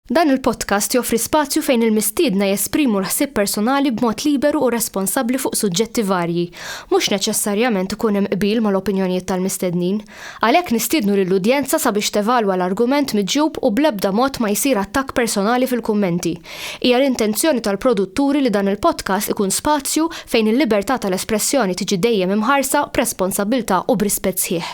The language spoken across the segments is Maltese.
Dan il-podcast joffri spazju fejn il-mistiedna jesprimu l-ħsieb personali b'mod liberu u responsabbli fuq suġġetti varji. Mhux neċessarjament ikun hemm qbil mal-opinjonijiet tal-mistednin. Għalhekk nistiednu lill-udjenza sabiex tevalwa l-argument miġjub u bl-ebda mod ma jsir attakk personali fil-kummenti. Hija l-intenzjoni tal-produtturi li dan il-podcast ikun spazju fejn il-libertà tal-espressjoni tiġi dejjem imħarsa b'responsabbiltà u b'rispett sħiħ.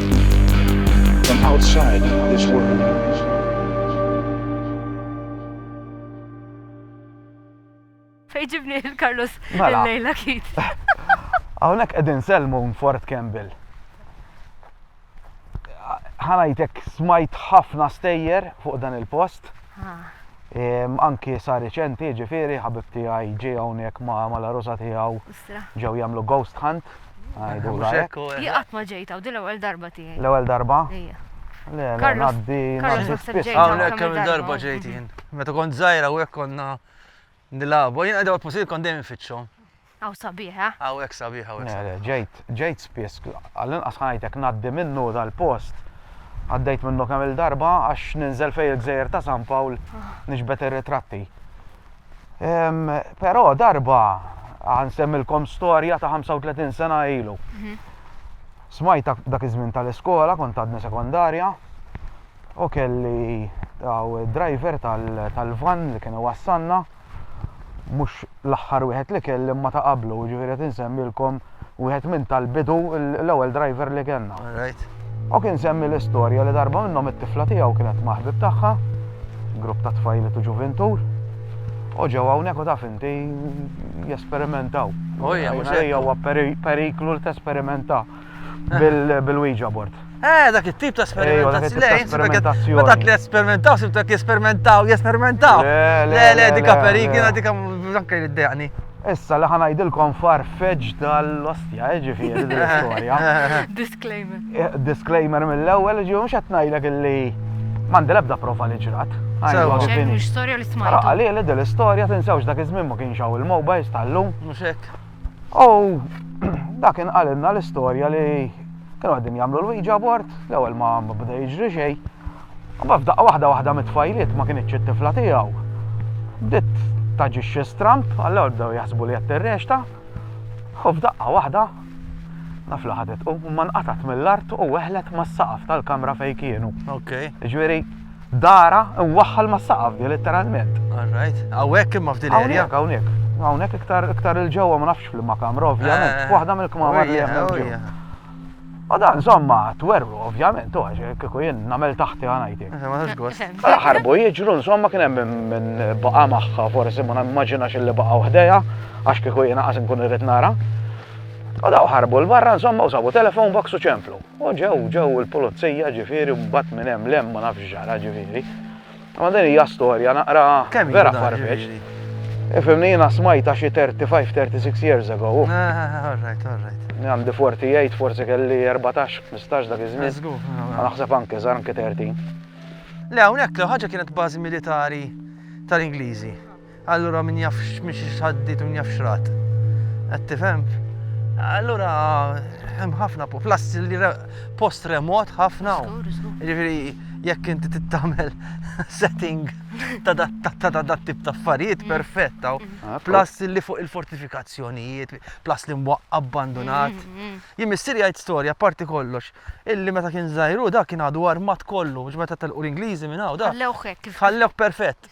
From outside this world. Fejġibni il-Carlos mela. il-lejla kit. Għawnek edin selmu Fort Campbell. Ħanajtek smajt ħafna stejjer fuq dan il-post. Ah. Anki sa' reċenti, ġifiri, ħabib tijaj ġi għawnek ma' la rosa tijaw ġew jamlu ghost hunt. Jien qatt ma ġejt hawn, din l-ewwel darba tiegħi. L-ewwel darba? Ija. Le, le, ngħaddi ngħaddi spiss. Hawnhekk kemm darba ġejt jien. Meta kont żgħira u hekk konna nilagħbu, jien qegħda posil kont dejjem fiċċhom. Aw sabiħa. Aw hekk sabiħa u hekk. Ġejt, ġejt spiss, għall-inqas ħajtek ngħaddi minnu dal-post. Għaddejt minnu kemm il-darba għax ninżel fej il-gżejjer ta' San Pawl ah. nixbet ir-ritratti. Ehm, però darba ħansemmilkom storja ta' 35 sena ilu. Mhm. Smajt dak iż-żmien tal-iskola, kont għadni sekondarja, u kelli daw driver tal-van li kienu wassanna, mhux l-aħħar wieħed li kelli ma ta' qablu, ġifieri qed insemmilkom wieħed minn tal-bidu l-ewwel driver li kellna. U kien semmi l-istorja li darba minnhom it-tifla tiegħu kienet maħbib tagħha, grupp ta' tfajli tu ġuvintur, u ġew hawnhekk u taf inti jesperimentaw. Ejja, mhux ejja huwa periklu li tesperimenta bil-Ouija board. Eh, dak it-tip ta' sperimentazzjoni. Sperimentazzjoni. Dak li esperimentaw, sibta ki esperimentaw, jesperimentaw. Le, le, dika perikina, dika anke li d-dejani. Issa li ħanajdilkom farfeġ tal-ostja, eh, ġifiri, l-istoria. Disclaimer. Eh, disclaimer mill-ewel, ġifiri, mux għatnajdek li mandi lebda profa li ġrat. Għalli li dil-istoria, tinsawx dak iż-żmien ma kienx hawn il-mobiles tal-lum. Muxek. U dak inqalilna l-istorja li kienu għaddin jagħmlu l-wieġa bord, l-ewwel ma bda jiġri xejn. Ma f'daqqa waħda waħda mit-tfajliet ma kienitx it-tifla tiegħu. Bdiet taġixxi stramb, għall-ewwel bdew jaħsbu li qed tirrexta, u f'daqqa waħda naf li ħadet u ma nqatat mill-art u weħlet mas-saqaf tal-kamra fejn kienu. Okej. Ġifieri Dara mwaħħal ma' saqaf di letteralment. Alright, hawnhekk imma f'din area. Hawnhekk, hawnhekk iktar iktar il ġewwa ma nafx fl-imma kamra ovvjament, eh, waħda mill-kmamar li hemm oh, ġewwa. U dan żomma twerru ovvjament, u għax kieku jien nagħmel taħti għanajti. Eh, Ħarbu jiġru insomma kien hemm minn baqa' magħha forsi ma nimmaġinax li baqa' waħdejha għax kieku jien qas nkun irrid nara. U daw ħarbu l-barra insomma u sabu telefon box u ċemplu. U ġew, ġew il-pulizija ġifieri u mbagħad minn hemm 'l hemm ma nafx x'ġara ġifieri. Imma din hija storja naqra vera farfetched. Ifhimni jiena smajtha xi 35, 36 years ago. Alright, alright. Għandi 48, forsi kelli 14, 15 dak iż-żmien. Żgur. U naħseb anke iżgħar, anke 13. Le hawnhekk l-ħaġa kienet bażi militari tal-Ingliżi. Allura min jaf x'miexi x'għaddiet u min jaf x'rat. Qed tifhem? Allura hemm ħafna plus li post remot ħafna. Jiġifieri jekk inti tittamel setting ta' dat tip ta' affarijiet mm. perfett taw. Ah, plus li fuq il-fortifikazzjonijiet, plus li mwaq abbandonat. Mm, mm, Jien missier jgħid storja parti kollox. Illi meta kien żajru da kien għadu armat kollu, biex meta tal-qur Ingliżi minn hawn da. Ħallewk perfett.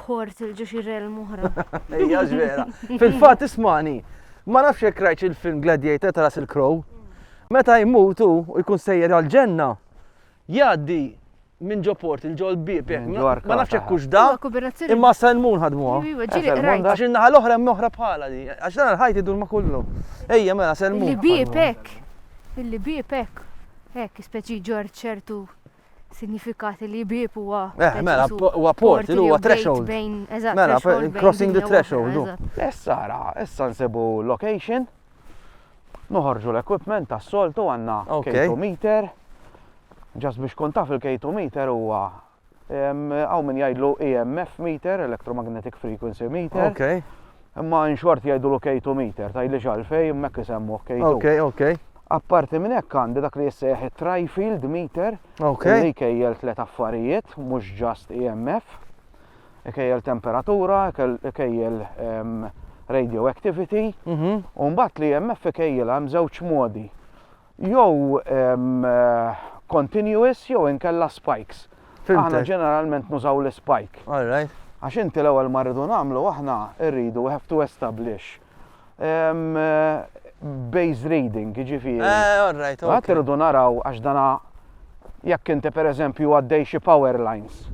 bħort il-ġuxi relm oħra. Ejja, ġvera. Fil-fat, ismani, ma nafx jekk rajt il-film Gladiator ta' Russell Crowe, meta jmutu u jkun sejjer għal-ġenna, jgħaddi minn ġo port il-ġo l-bib, ma nafx jekk kux da, imma salmun ħadmuha. Għax in-naħa l-oħra hemm oħra bħala di, għax dan il-ħajt idur ma kollu. Ejja, mela, salmun. Il-bib hekk, il-bib hekk, hekk, speċi ġor ċertu sinjifikat li bieb huwa. Eh, mela, huwa port, li huwa threshold. Bejn, eżatt, mela, crossing the threshold. Issa ra, issa nsibu location, noħorġu l-equipment tas soltu għanna K2 meter, ġas biex kun taf il-K2 meter huwa għaw minn jgħidlu EMF meter, electromagnetic frequency meter. Okay. Imma in short jgħidulu K2 meter, tgħidlix għalfejn, hemmhekk isemmuh K2. Ok, ok. Apparti minn hekk għandi dak li jissejjaħ it-trifield meter, okay. li kejjel tliet affarijiet, mhux just EMF, kejjel temperatura, kejjel um, radioactivity, mm -hmm. u mbagħad li EMF kejjel hemm żewġ modi. jew continuous jew inkella spikes. Aħna ġeneralment nużaw l-spike. All right. Għax inti l-ewwel ma rridu nagħmlu aħna rridu we have to establish base reading, ġifieri. Eh, all right, all right. Għat irridu naraw għax dana jekk inti pereżempju għaddej xi power lines.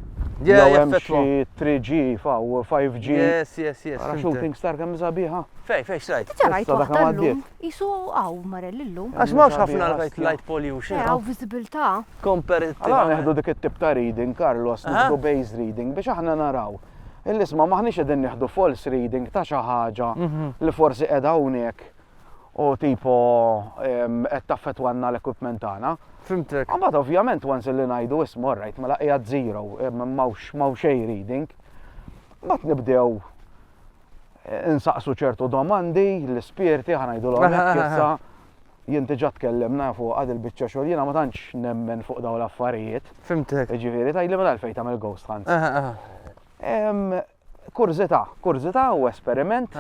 Jew hemm xi 3G faw 5G. Yes, yes, yes. Għara shooting star kemm sabiħa. Fej, fej, xrajt. Issa rajt waħda llum. Qisu hawn marel illum. Għax m'hawnx ħafna light pollution. Eh, hawn viżibilità. Komperittivament. Allura nieħdu dik it-tip ta' reading, Carlos, nieħdu base reading biex aħna naraw. Il-isma' m'aħniex qegħdin nieħdu false reading ta' xi ħaġa mhm. li forsi qiegħda hawnhekk u tipo qed taffetwanna l-equipment tagħna. Fimtek. Mbagħad ovvjament once li ngħidu isma' orrajt mela qiegħed zero, m'hawnx xejn reading. Mbagħad nibdew insaqsu ċertu domandi, l-ispirti, ħanajdulhom hekk issa, jien diġà tkellimna fuq għad il-biċċa xogħol, jiena ma tantx nemmen fuq dawn l-affarijiet. Fimtek. Ġifieri tgħidli minn għalfejn tagħmel ghost hunt. Kurzita, kurzita u esperiment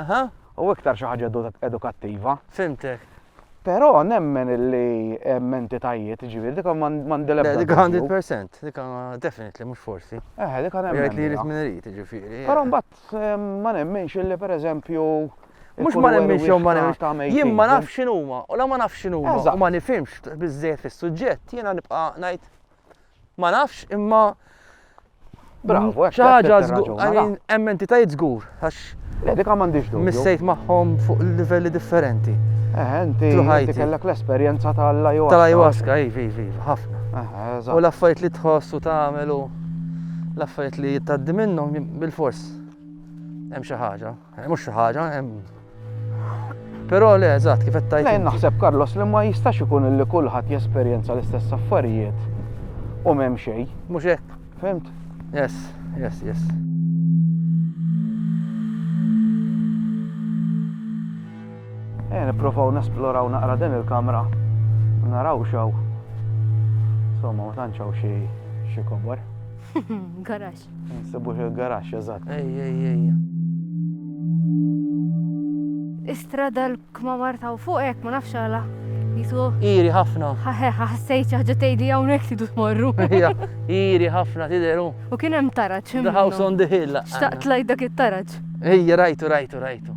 u iktar xi ħaġa edukattiva. Fimtek. Però nemmen li hemm entitajiet, ġifieri dik m'għandi l-ebda. Dik 100%, dik definitely mhux forsi. Eh, dik hemm. Jgħid li jrid min irid, ġifieri. Però mbagħad Ma nemminx illi per eżempju. Mux ma nemminx jew ma nemminx. Jien ma nafx x'inhuma, u la ma nafx x'inhuma, u ma nifhimx biżżejjed fis-suġġett, jiena nibqa' ngħid ma nafx imma Bravo, hekk. Xi ħaġa żgur, hemm entitajiet żgur, għax. Le, dik ma għandix dubju. Missejt magħhom fuq livelli differenti. Eh, inti kellek l-esperjenza tal-ayahuasca. Tal-ayahuasca, iva, iva, iva, ħafna. U l-affarijiet li tħoss u tagħmel u. L-affarijiet li tgħaddi minnhom bilfors hemm xi ħaġa, eh, mhux xi ħaġa, hemm Però le, eżatt, kif qed tajt. Lejn naħseb Carlos li ma jistax ikun li kulħadd jesperjenza l-istess affarijiet u m'hemm xejn. Mhux hekk. Fimt? Yes, yes, yes. Ejja nipprovaw nesploraw naqra din il-kamra u naraw x'hawn. Insomma, ma tantx hawn xi xi kobor. Garax. Nsibu xi garax, eżatt. Ejja, ejja, ejja. Istrada l-kmamar ta' fuq hekk ma nafx għala. Jisu. Iri ħafna. Ħaħe, ħassejt ħaġa tgħidli hawnhekk tidu tmorru. Ejja, iri ħafna tidheru. U kien hemm taraġ. The house on the hill. Xtaqt lajt dak it-taraġ. Ejja, rajtu, rajtu, rajtu.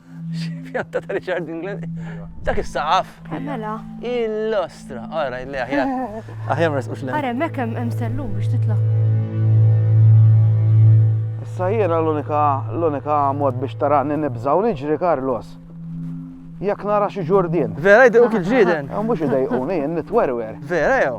Pjanta ta' Richard England. Dak is-saqaf. Eh, mela. Il-lostra. Ara, illi aħjar. Aħjar mres u xlem. Ara, mek hemm sellu biex titla. Issa jiena l-unika l-unika mod biex tarani nibżaw niġri Carlos. Jekk nara xi ġurdien. Vera jdejqu kif ġrieden. Mhux idejquni, nitwerwer. Vera jew?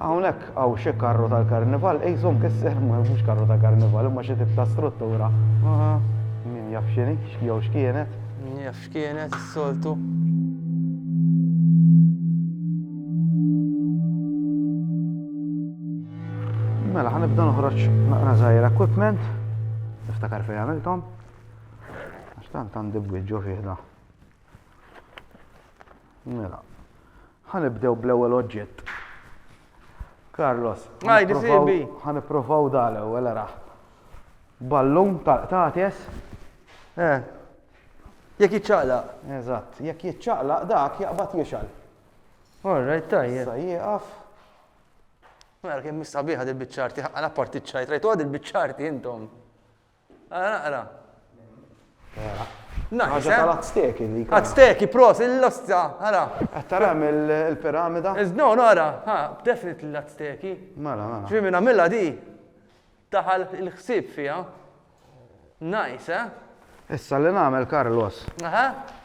Hawnhekk hawn xi karru tal-karnival, qisu mkisser, mhux karru ta' karnival, imma xi tip ta' struttura. Min jaf x'inhi, jew x'kienet. Min jaf x'kienet, is-soltu. Mela, ħa nibda noħroġ naqra żgħir equipment. Niftakar fejn għamilthom. Għax tant għandi bwieġġu fih da. Mela, ħa nibdew bl-ewwel oġġett. Carlos, ħa nipprovaw da l-ewwel araħ. Ballun tal-qtates. Eh. Jekk jiċċaqlaq. Eżatt, jekk jiċċaqlaq dak jaqbad jixal. All right, tajjeb. Sa jieqaf. Mela kien mistabiħa dil-biċċarti, għala parti ċajt, rajtu għad il-biċċarti intom. Ara naqra. Naqis, eh? Azteki li. Azteki, pros, il-losta, ara. Tara il-piramida? No, no, ara, ha, definit l-Azteki. Mela, mela. Ġi minna mela di, taħal il-ħsib fija. Nice, eh? Issa li nagħmel Carlos. Aha.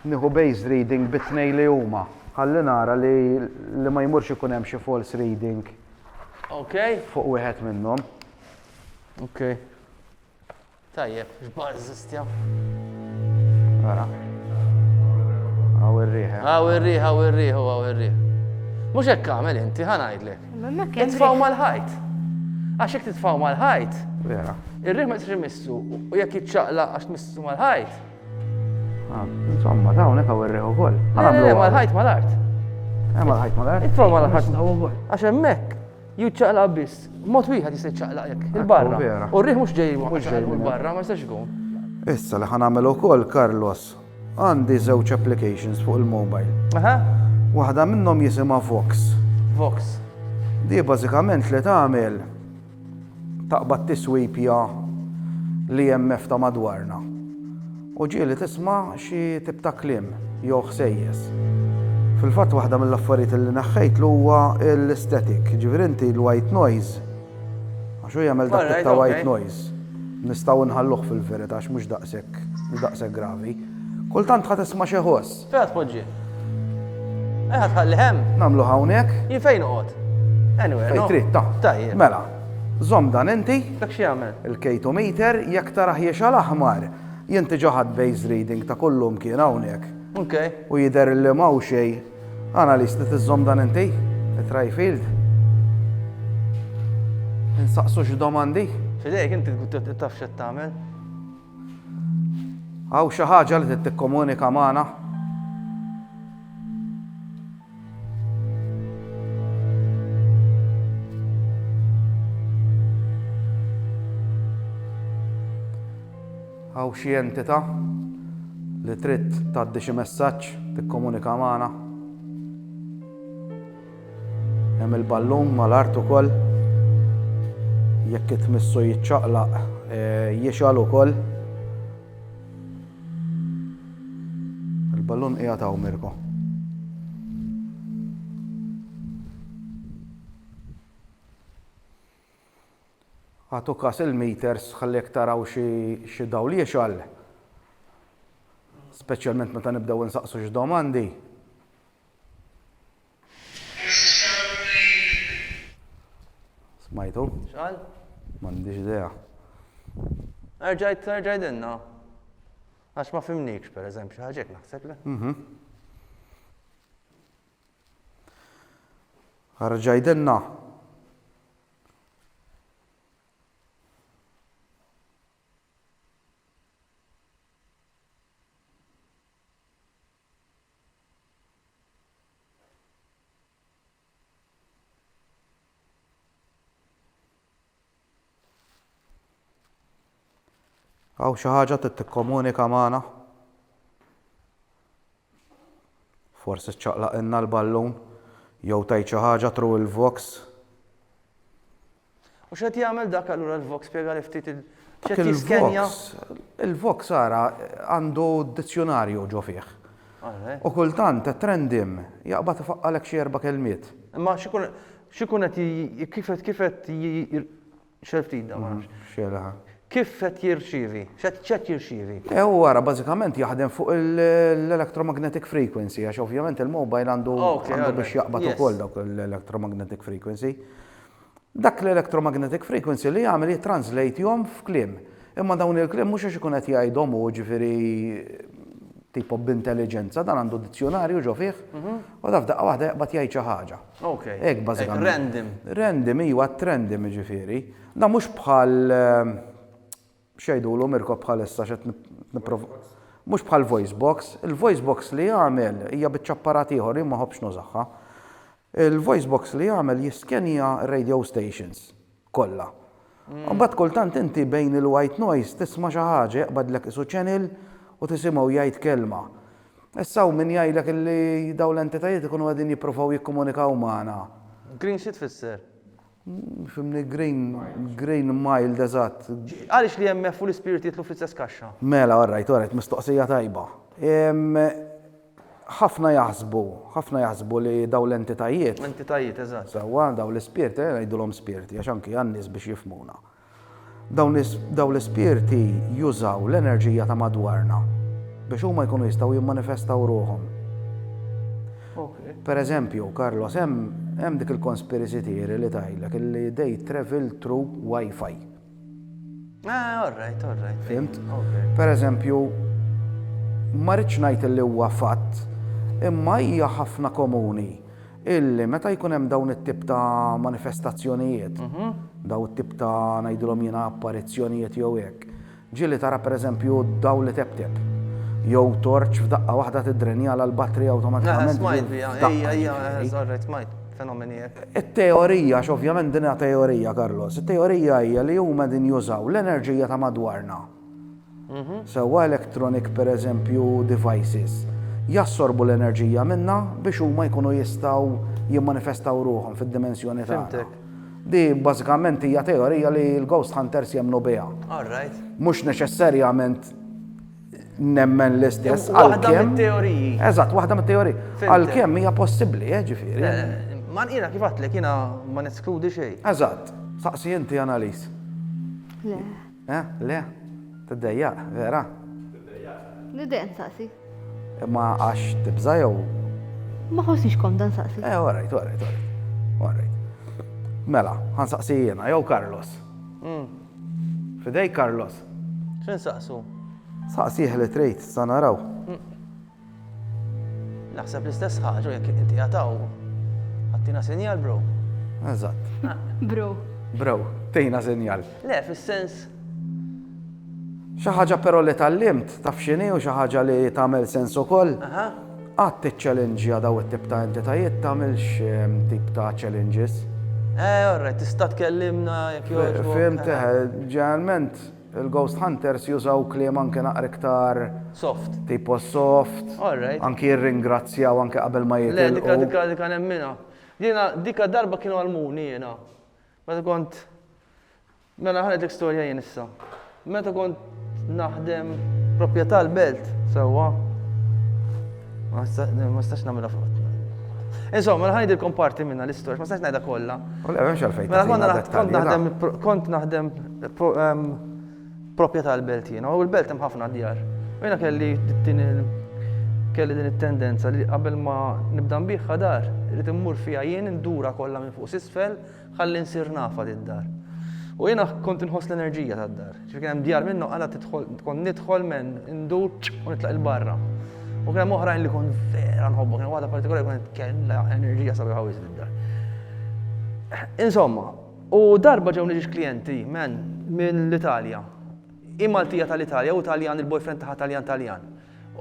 Nieħu base reading bitnej li huma. Ħalli nara li li ma jmurx ikun hemm xi false reading. Ok. Fuq wieħed minnhom. Ok. Tajjeb, xbar zistja. Għara. Għaw il-riħ. Eh. Għaw il-riħ, għaw il-riħ, għaw il-riħ. Mux hekk għamel inti, ħanajdlek. Titfaw mal-ħajt. Għax jek titfaw mal-ħajt. Vera. Il-riħ ma jisri missu u jek jitċaqla għax missu mal-ħajt. Ah, insomma, dawn hekk għaw il-riħ u koll. Għamlu mal-ħajt mal-art. Għamlu mal-ħajt mal-art. Titfaw mal-ħajt. Għax emmek. Jew iċċaqlaq biss. B'mod wieħed jista' jiċċaqlaq hekk, il-barra. U r-riħ mhux ġej minn barra, ma jistax ikun. Issa li ħa nagħmel ukoll, Carlos, għandi żewġ applications fuq il-mobile. Aha. Waħda minnhom jisimha Vox. Vox. Di bażikament li tagħmel taqbad tiswipja li hemm ta' madwarna. U ġieli tisma' xi tip ta' kliem jew ħsejjes. Fil-fatt waħda mill-affarijiet li neħħejtlu huwa l-static, jiġifieri inti l-white noise, għax hu jagħmel dak it-tip ta' white noise, nistgħu nħalluh fil-verità għax mhux daqshekk mhux daqshekk gravi. Kultant ħa tisma' xi ħoss. Fejn ħa tpoġġi? Fejn ħa tħalli hemm? Nagħmlu hawnhekk. Jien fejn noqgħod? Anyway. Fejn trid ta. Tajjeb. Mela. Żomm dan inti. Dak xi jagħmel? Il-kejtometer jekk tara ħiex għal aħmar. Jien tiġa ħadd base reading ta' kullum kien hawnhekk. Ok. U jidher li ma' xej. Analist li tiżżomm dan inti? It-Trifield? Insaqsu x'domandi? Fidejk inti taf x'qed tagħmel. Hawn xi ħaġa li trid tikkomunika magħna? Hawn xi entità li trid tgħaddi xi messaġġ tikkomunika magħna? Hemm il-ballun mal-art ukoll. Jekk itmissu jiċċaqlaq eh, jixgħal ukoll. Il-ballun qiegħed hawn Mirko. Għatu kas il-meters ħallek taraw xi dawl jixgħal. Speċjalment meta nibdew insaqsu xi domandi. Smajtu? X'qal? M'għandix idea. Erġa' jgħidilna. Għax ma fhimnikx pereżempju, xi ħaġa hekk naħseb le? Mhm. Erġa' jgħidilna. Għaw xi ħaġa trid tikkomunika magħna? Forsi ċċaqlaqilna l-ballun jew tgħid xi ħaġa tru il-vox. U x'qed jagħmel dak allura l-Vox? Spjegali ftit il x'qed jiskenja? Il-Vox ara għandu dizzjunarju ġo fih. U kultant it-trendim jaqbad ifaqqalek xi erba' kelmiet. Imma x'ikun qed kif qed kif qed xel ftit da ma nafx. Xelha. Kif qed jirċievi? X'qed jirċievi? Ew ara bażikament jaħdem fuq l-electromagnetic frequency għax ovvjament il-mobile għandu biex jaqbad ukoll dawk l-electromagnetic frequency. Dak l-electromagnetic frequency li jagħmel jittranżlejthom f'kliem. Imma dawn il-kliem mhux għax ikun qed jgħidhom hu, ġifieri tipo b'intelliġenza, dan għandu dizzjonarju ġo fih, u da f'daqqa waħda jaqbad jgħid xi ħaġa. Okej. Hekk bażikament. Random. Random, iva, random jiġifieri. Dan mhux bħal X'jgħidulhom irkob bħalissa x'qed nipprova Mhux bħal voice box, il-voice box li jagħmel hija biċċa apparat ieħor jien ma ħobbx nużaha. Il-voice box li jagħmel jiskenja r-radio stations kollha. Imbagħad kultant inti bejn il-white noise tisma' xi ħaġa jaqbadlek isu channel u tisimgħu jgħid kelma. Issa hawn min jgħidlek li dawn l-entitajiet ikunu qegħdin jippruvaw jikkomunikaw magħna. Green xi tfisser? Fimni grain, grain mild eżatt. Għaliex l-IMF u l-ispirit jidħlu fl-istess kaxxa? Mela, orrajt, orrajt, mistoqsija tajba. Ħafna jaħsbu, ħafna jaħsbu li dawn l-entitajiet. Entitajiet, eżatt. Sewwa, dawn l-ispirt, ejja ngħidulhom spirti għax anki għan-nies biex jifhmuna. Dawn l-ispirti jużaw l-enerġija ta' madwarna biex huma jkunu jistgħu jimmanifestaw ruħhom. Per eżempju, Carlos, hemm dik il-conspiracy theory li tgħidlek illi they travel through Wi-Fi. Ah, all right, all right. Fimt? Per eżempju, ma rridx ngħid li huwa fatt, imma hija ħafna komuni illi meta jkun hemm dawn it-tip ta' manifestazzjonijiet, dawn it-tip ta' ngħidilhom jiena apparizzjonijiet jew hekk, ġieli tara pereżempju dawl li teptep, jew torċ f'daqqa waħda tiddrenjala l-battery awtomatikament. Smajt biha, ejja, ejja, eżorrejt, smajt fenomeni hekk. It-teorija, x'ovvjament din hija teorija, Carlos, it-teorija hija li huma qegħdin jużaw l-enerġija ta' madwarna. Sewwa electronic pereżempju devices jassorbu l-enerġija minnha biex huma jkunu jistgħu jimmanifestaw ruħhom fid-dimensjoni tagħna. Di bażikament hija teorija li l-ghost hunters jemmnu biha. Mhux neċessarjament nemmen l-istess għalkemm. Waħda mit-teoriji. Eżatt, waħda mit-teoriji. Għalkemm hija possibbli, eh, ġifieri. Eh, eh, ma jiena kif għatlek jiena ma neskludi xejn. Eżatt, saqsi inti analiż. Le. Eh, le. Tiddejjaq, vera? Niddejjaq nsaqsi. Imma għax tibża' jew? Ma ħossnix komda nsaqsi. Eh, all right, all right, all right. All right. Mela, ħansaqsi jiena jew Carlos. Fidejk Carlos. X'insaqsu? Saqsih li trid, sa naraw. Naħseb l-istess ħaġa jekk inti għataw. Għattina sinjal, bro. Eżatt. Bro. Bro, tejna sinjal. Le, fis-sens. Xi ħaġa però li tallimt taf x'inhi u xi ħaġa li tagħmel sens ukoll. Qatt tiċċellenġja daw it-tip ta' entitajiet tagħmilx ehm, tip ta' challenges. Eh, orrejt, tista' tkellimna jekk jogħġbok. Fimteħ, eh, ġeneralment Il-ghost hunters jużaw kliem anke naqra iktar. Soft. Tipo soft. All right. Anki jirringrazzjaw anke qabel ma jitilqu. Le, dika dika dika nemminha. Jiena dika darba kienu għalmuni jiena. Meta kont Mela ħanet l-istorja jien issa. Meta kont naħdem proprjetà l-belt, sewwa. Ma stax nagħmilha fuq. Insomma, mela ħajdilkom parti minna l-istorja, ma stax ngħidha kollha. Mela kont naħdem kont naħdem Proprjetà tal-belt jiena, u l-belt hemm ħafna djar. U jiena kelli din kelli din it-tendenza li qabel ma nibda nbigħha dar, irid immur fiha jien indura kollha minn fuq s'isfel ħalli nsir nafha did-dar. U jiena kont inħoss l-enerġija tad-dar. Ġifi kien hemm djar minnu għala tidħol, kont nidħol men indur u nitlaq il-barra. U kien hemm oħrajn li kont vera nħobbu, kien waħda partikolari kont kellha enerġija sabiħa wis did-dar. Insomma, U darba ġewni ġiex klijenti, man, minn l-Italja. Hi Maltija tal-Italja u Taljan il-boyfriend tagħha Taljan Taljan.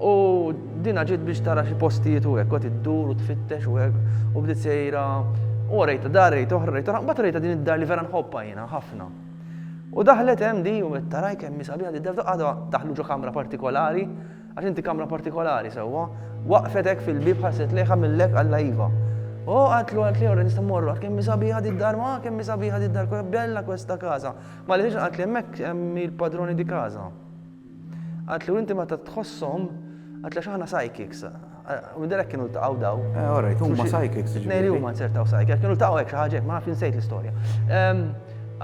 U dinha ġiet biex tara xi postijiet u hekk, qgħet iddur u tfittex u hekk, u bdiet sejra, u orejtha dar, rejt oħra, rejt oħra, mbagħad orejtha din id-dar li vera nħobbha jiena ħafna. U daħlet hemm di u għedt taraj kemm hi sabiħa di d-dar, daħlu ġo kamra partikolari, Għax inti kamra partikolari sewwa. Waqfet hekk fil-bieb ħarset lejha mill-hekk għalha iva. O, għaltlu, għaltli, ora nista' mmorru, għad kemm hi sabiħa di d-dar, ma, kemm hi sabiħa di d-dar, kemm bella questa casa. Ma li ħriġna għaltli hemmhekk hemm il-padrone di casa. Għaltlu inti meta tħosshom, għaltli għax aħna psychics. U minn dalhekk kienu ltaqgħu daw. Eh, ora, huma psychics. Jiġifieri. Nejri huma nsertaw psychics, kienu ltaqgħu hekk xi ħaġa hekk, ma nafx insejt l-istorja. Ehm,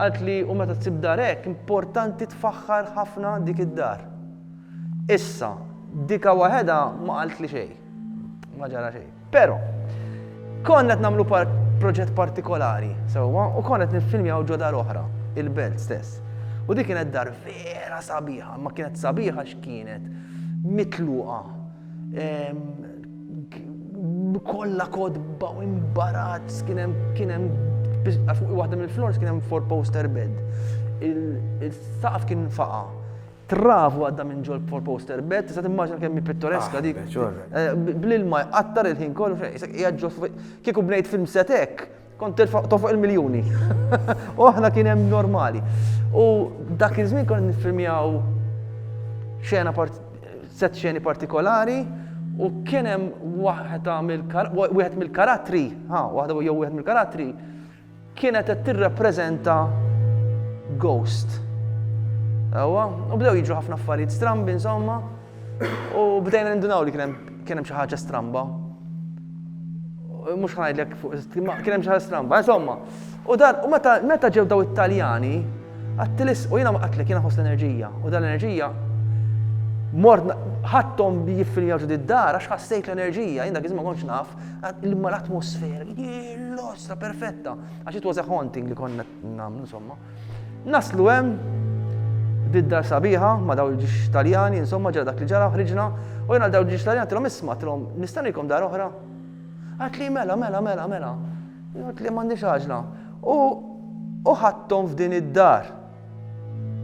għaltli u meta tsib dar hekk, importanti tfaħħar ħafna dik id-dar. Issa, dika waħedha ma qaltli xejn. Ma ġara xejn. Però, konna qed nagħmlu proġett partikolari, sewwa, u konna qed niffilmjaw ġo dar oħra, il-Belt stess. U dik kienet dar vera sabiħa, ma kienet sabiħa x'kienet mitluqa. Kolla kodba u imbarazz kien hemm kien hemm waħda mill-flors kien hemm four poster bed. Il-saqaf kien faqa. Travu għadda minn ġol for poster bed, tista' timmaġina kemm hi pittoreska ah, dik. Eh, bl-ilma jqattar il-ħin kollu fejn isek qiegħed ġol kieku bnejt film set hekk, kont tofoq il-miljuni. U aħna kien hemm normali. U dak iż-żmien kont nifilmjaw xena set xeni partikolari u kien hemm waħda mill-karattri, ha, waħda jew wieħed mill-karattri Kienet qed tirrappreżenta ghost. Ewwa, u bdew jiġu ħafna affarijiet strambi insomma, u bdejna nindunaw li kien hemm xi ħaġa stramba. Mhux ħanajdlek fuq kien hemm xi ħaġa stramba, insomma. U dan, u meta meta ġew daw it-Taljani, għattilis, u jiena ma qatlek, jiena ħoss l-enerġija, u dan l-enerġija mort ħattom jiffiljaw ġud id-dar għax ħassejt l-enerġija, jien dak iż-żmien ma kontx naf. Imma l-atmosfera, l-ostra perfetta, għax it was a haunting li konna nagħmlu insomma. Naslu hemm bid-dar sabiħa ma daw il-ġiex Taljani, insomma ġara dak li ġara ħriġna u jena daw il-ġiex Taljani tilhom isma' tilhom nistanikom dar oħra. Għat li mela, mela, mela, mela. Għat li m'għandix għaġla. U ħadthom f'din id-dar.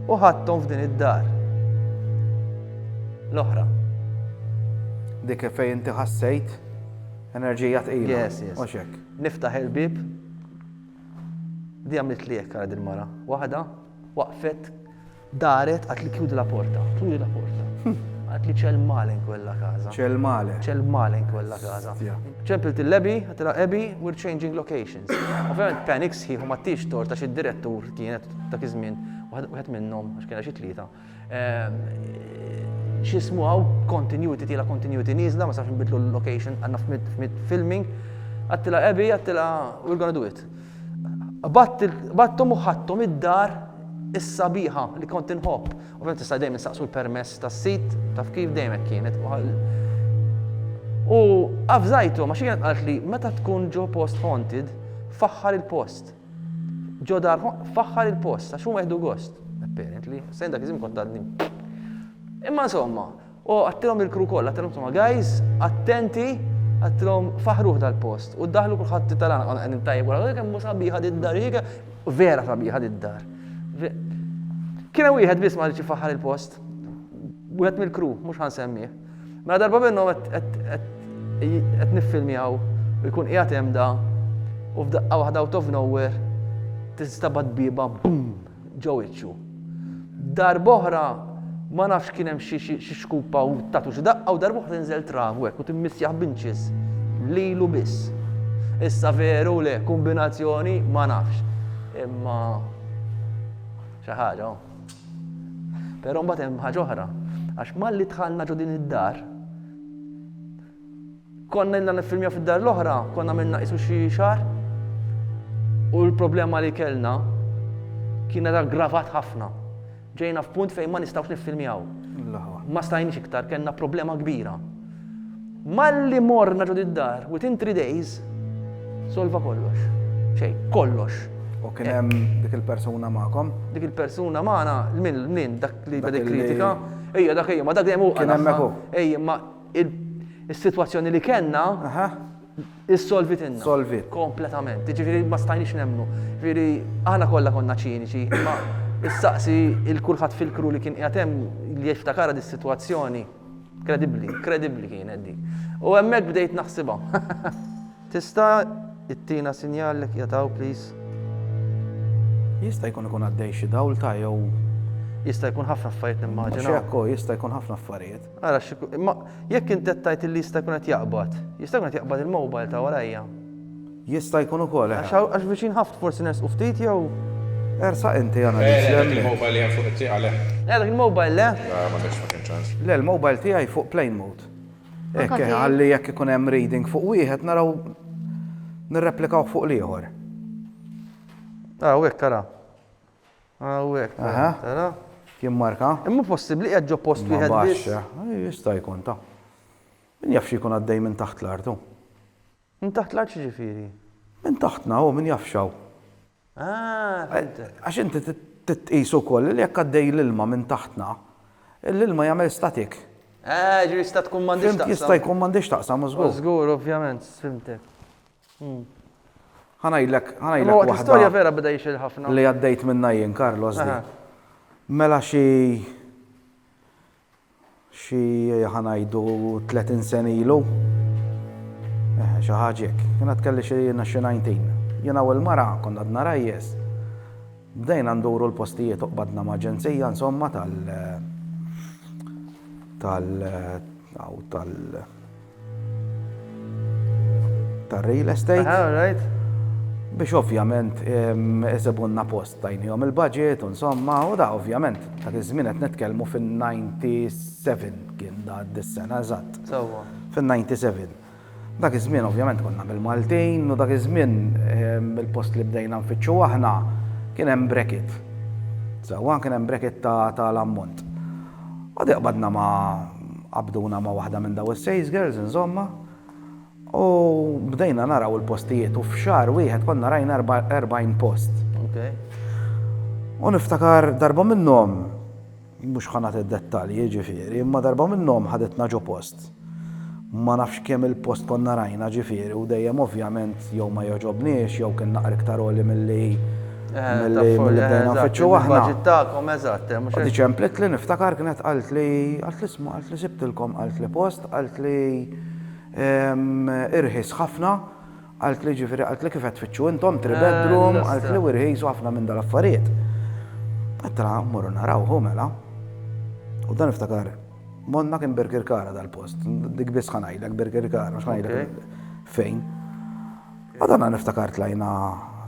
u ħadthom f'din id-dar l-oħra. Dik fejn inti ħassejt enerġija tqila. Yes, yes. Mhux hekk. Niftaħ il-bib. Di għamilt li hekk għal il-mara. Waħda waqfet daret għat li kjudi la porta, turi la porta. Hm. Għat li ċel malen kwella kaza. ċel malen. ċel malen kwella kaza. ċempil il-lebi, għatila ebi, we're changing location. Ovvjament panik sħiħ u ma tix tort għax id-direttur kienet dak iż-żmien wieħed minnhom għax kienha xi tlieta. Ehm, x'ismu hawn continuity tiela continuity nieżla ma safx nbidlu l-location għandna f'mid filming. Għattila ebi, għattila we're gonna do it. Battom u ħattom id-dar is-sabiħa li kont inħobb. Ovvjament tista' dejjem insaqsu l-permess tas-sid, taf kif, dejjem hekk kienet. U avżajtu, ma xi kienet qalt li meta tkun ġo post haunted, faħħar il-post. Ġo dar faħħar il-post, għax huma jieħdu gost. Apparently, sejn dak iżim kont għadni. Imma insomma, O, għattilhom lill-crew kollha, għattilhom insomma, guys, attenti, għattilhom faħruh dal-post. U ddaħħlu kulħadd it-talan konna qegħdin tajjeb wara, kemm hu sabiħa did-dar, vera sabiħa did-dar. Kien hemm wieħed biss ma rridx ifaħħar il-post. Wieħed mill-crew, mhux ħansemmih. Mela darba minnhom qed niffilmjaw u jkun qiegħed hemm da u f'daqqa waħda out of nowhere tistabad biba bum ġo wiċċu. Darb'oħra ma nafx kien hemm xi xi xkupa u tatu xi daqqa u darb'oħra tinżel travu hekk u timmissjah b'inċis lilu biss. Issa veru le, kombinazzjoni ma nafx. Imma xi ħaġa. Però mbagħad hemm ħaġa oħra, għax malli dħalna ġo din id-dar, Konna ilna niffilmjaw fid-dar l-oħra, konna għamilna qisu xi xahar, u l-problema li kellna kienet aggravat ħafna. Ġejna f'punt fejn ma nistgħux niffilmjaw. Ma stajniex iktar, kellna problema kbira. Malli morna ġod id-dar, within three days, solva kollox. Xej, kollox. U kien hemm dik il-persuna magħkom? Dik il-persuna magħna, minn dak li beda kritika, ejja dak ejja, ma dak dejjem hu. Kien hemm Ejja, ma is-sitwazzjoni li kellna issolvitilna. Solvit. Kompletament. Ġifieri ma stajniex nemmnu. Ġifieri aħna kollha konna ċiniċi, imma issaqsi il kulħadd fil-kru li kien qiegħed hemm li jiftakarha dis-sitwazzjoni. Kredibbli, kredibbli kienet dik. U hemmhekk bdejt naħsibha. Tista' ittina sinjal li jataw, please? Jista' jkun ikun għaddej xi dawl ta' jew. Jista' jkun ħafna affarijiet nimmaġina. Xekko, jista' jkun ħafna affarijiet. Ara xi imma jekk int qed tgħid illi jista' jkun qed jaqbad, jista' jkun qed jaqbad il-mobile ta' warajja. Jista' jkun ukoll, eh. Għax viċin ħafna forsi nersqu ftit jew. Ersaq inti analiżi hemmhekk. Le, dak il-mobile li hemm fuq it-tieqa le. Le, dak il-mobile le. Le, ma kienx, ma kien ċans. Le, l-mobile tiegħi fuq plane mode. Hekk, eh, ħalli jekk ikun hemm reading fuq wieħed naraw nirreplikawh fuq l-ieħor. Ara, u hekk, ara. Hawnhekk, tara? Kien marka. Imma hu possibbli qiegħed ġo post wieħed biss? Jista' jkun ta. Min jaf x'jkun għaddej minn taħt l-art hu? Minn taħt l-art x'jiġifieri? Minn taħtna hu, min jaf x'hawn. Ah, fimtek. Għax inti titqis ukoll li jekk għaddej l-ilma minn taħtna, l-ilma jagħmel statik. Ah, ġifieri jista' tkun m'għandhiex taqsam. Jista' jkun m'għandhiex taqsam, żgur. Żgur, ovvjament, fimtek. Ħa ngħidlek, ħa ngħidlek waħda. Imma storja vera beda jixil ħafna. Li għaddejt minnha jien Carlos di. Mela xi xi ħa ngħidu 30 sen ilu. Eh, xi ħaġek. Jiena tkelli xi jiena xi 19. Jiena u l-mara konna għadna rajjes. Bdejna nduru l-postijiet uqbadna ma' ġenzija insomma tal tal tal ta' real estate. Ah, right. Biex ovvjament eżebunna post tajnijom il-budget, insomma, u da ovvjament ta' iż-żmien qed nitkellmu fin-97 kien da dis-sena eżatt. Sewwa. Fin-97. Dak iż-żmien ovvjament konna bil-Maltin u dak iż-żmien il-post li bdejna nfittxu aħna kien hemm bracket. Sewwa kien hemm bracket ta' l-ammont. Għad iqbadna ma' qabduna ma' waħda minn daw is-sales girls inżommha u bdejna naraw il-postijiet u f'xahar wieħed konna rajna 40 post. U niftakar darba minnhom mhux ħanat id-dettalji ġifieri, imma darba minnhom ħaditna ġo post. Ma nafx kemm il-post konna rajna ġifieri u dejjem ovvjament jew ma jogħġobniex jew kien naqra iktar għoli milli milli bdejna nfittxu aħna. Eżatt, il-budget tagħkom, eżatt, hemm mhux hekk? U diġ ċemplitli niftakar kienet qaltli, qaltli isma' qaltli sibtilkom qaltli post qaltli irħis ħafna qaltli ġifieri qaltli kif qed tfittxu intom three bedroom qaltli u rħis u ħafna minn dal-affarijiet. Għedtilha mmorru naraw hu mela. U dan niftakar Monna kien Birkirkara dal-post, dik biss ħanajlek Birkirkara, mhux ħanajlek fejn. Għadana niftakar tlajna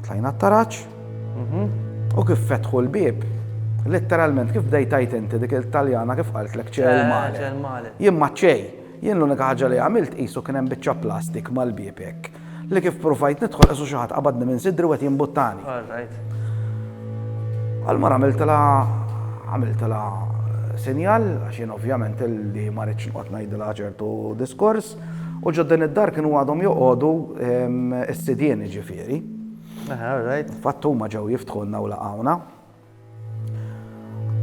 tlajna t-taraċ mhm. u kif fetħu l-bib, letteralment kif bdejtajt inti dik il-Taljana kif qalt l ċej male. Jien ma ċej, jien l-unika ħaġa li għamilt qisu kien hemm biċċa plastik mal-bibek. Li kif pruvajt nidħol qisu xi ħadd qabadni minn sidri u qed jimbuttani. All right. Għalmar għamiltilha għamiltilha sinjal għax jien ovvjament li ma rridx noqgħod ngħidilha ċertu diskors u ġodden id-dar kienu għadhom joqogħdu ehm, s-sidien ġifieri. Aha, all right. Fatt huma ġew jiftħulna u laqgħuna.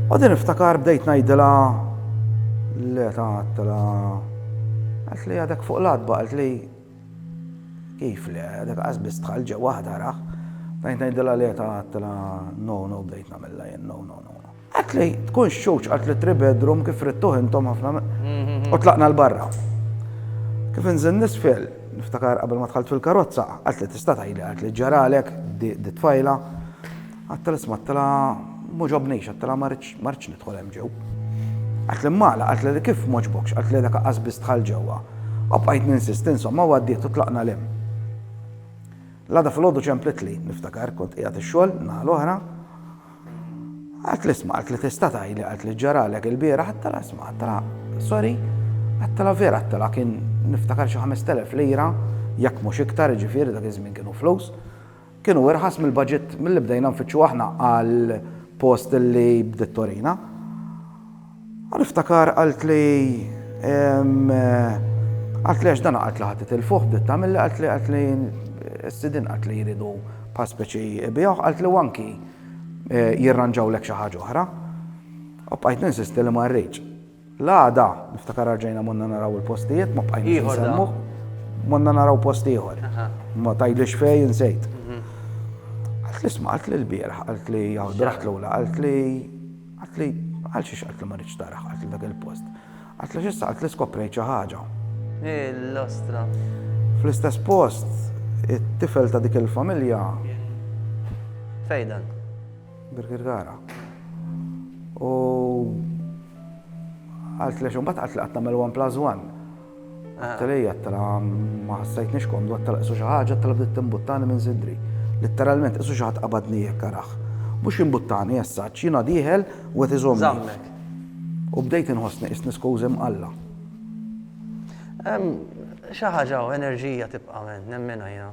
U din iftakar bdejt ngħidilha li tagħtla għalt li għadek fuq l-adba għalt li kif li għadek għazbis tħal ġew waħda raħ. Bdejt ngħidilha li tagħtla no no bdejt nagħmilha jien no no no. Għalt li tkun xewġ għalt li tri bedroom kif rittuħ intom ħafna mhm. u tlaqna l-barra. Kif inżin nisfel, niftakar qabel ma tħalt fil-karozza, għalt li tista' tgħidli għalt li ġaralek di tfajla Għedtilha isma' għedtilha m'għoġobnix, għedtilha ma ridx ma ridx nidħol hemm ġew. Qaltli m'għala, qaltli li kif m'għoġbokx, qaltli li laqqas biss dħalt ġewwa. U bqajt ninsisti insomma u għaddiet u tlaqna 'l hemm. L-għada filgħodu ċemplitli, niftakar, kont qiegħed ix-xogħol n-naħa l-oħra. Qaltli isma' qaltli tista' tgħidli qaltli x'ġaralek ilbieraħ għedtilha isma' għedtilha sorry għedtilha vera għedtilha kien niftakar xi ħamest elef lira jekk mhux iktar jiġifieri dak iż-żmien kienu flus. Kienu irħas mill-baġit milli bdejna nfittxu aħna għal post li bdiet torina. U niftakar qaltli qaltli għax dan qaltli ħadd itilfuh bdiet tagħmilli qaltli qaltli s-sidin qaltli jridu bħal speċi biegħu qaltli u anki jirranġawlek xi ħaġa oħra. U bqajt ninsisti li ma rridx. L-għada, niftakar arġajna monna naraw il-postijiet, ma bqajt nsemmu. Monna naraw post ieħor. Ma tajdlix fej insejt. Mhm. Għalt li sma, għalt li l-bierħ, għalt li għawd raħt l-ula, għalt li għalt li għal xiex għalt li marriċ taraħ, għalt li dak il-post. Għalt li xissa għalt li skoprejt xi ħaġa. L-ostra. Fl-istess post, it-tifel ta' dik il-familja. Fejdan. Birgit Gara. U għalt lex mbagħad qatt li qatt nagħmel one plus one. Għattilej għattila ma ħassajtniex komdu għattila qisu xi ħaġa għattila bdiet timbuttani minn sidri. Litteralment qisu xi ħadd qabadni jekk araħ. Mhux imbuttani essaċ, jiena dieħel u qed iżomm. U bdejt inħossni isni skużi mqalla. Xi ħaġa enerġija tibqa' minn nemmena jiena.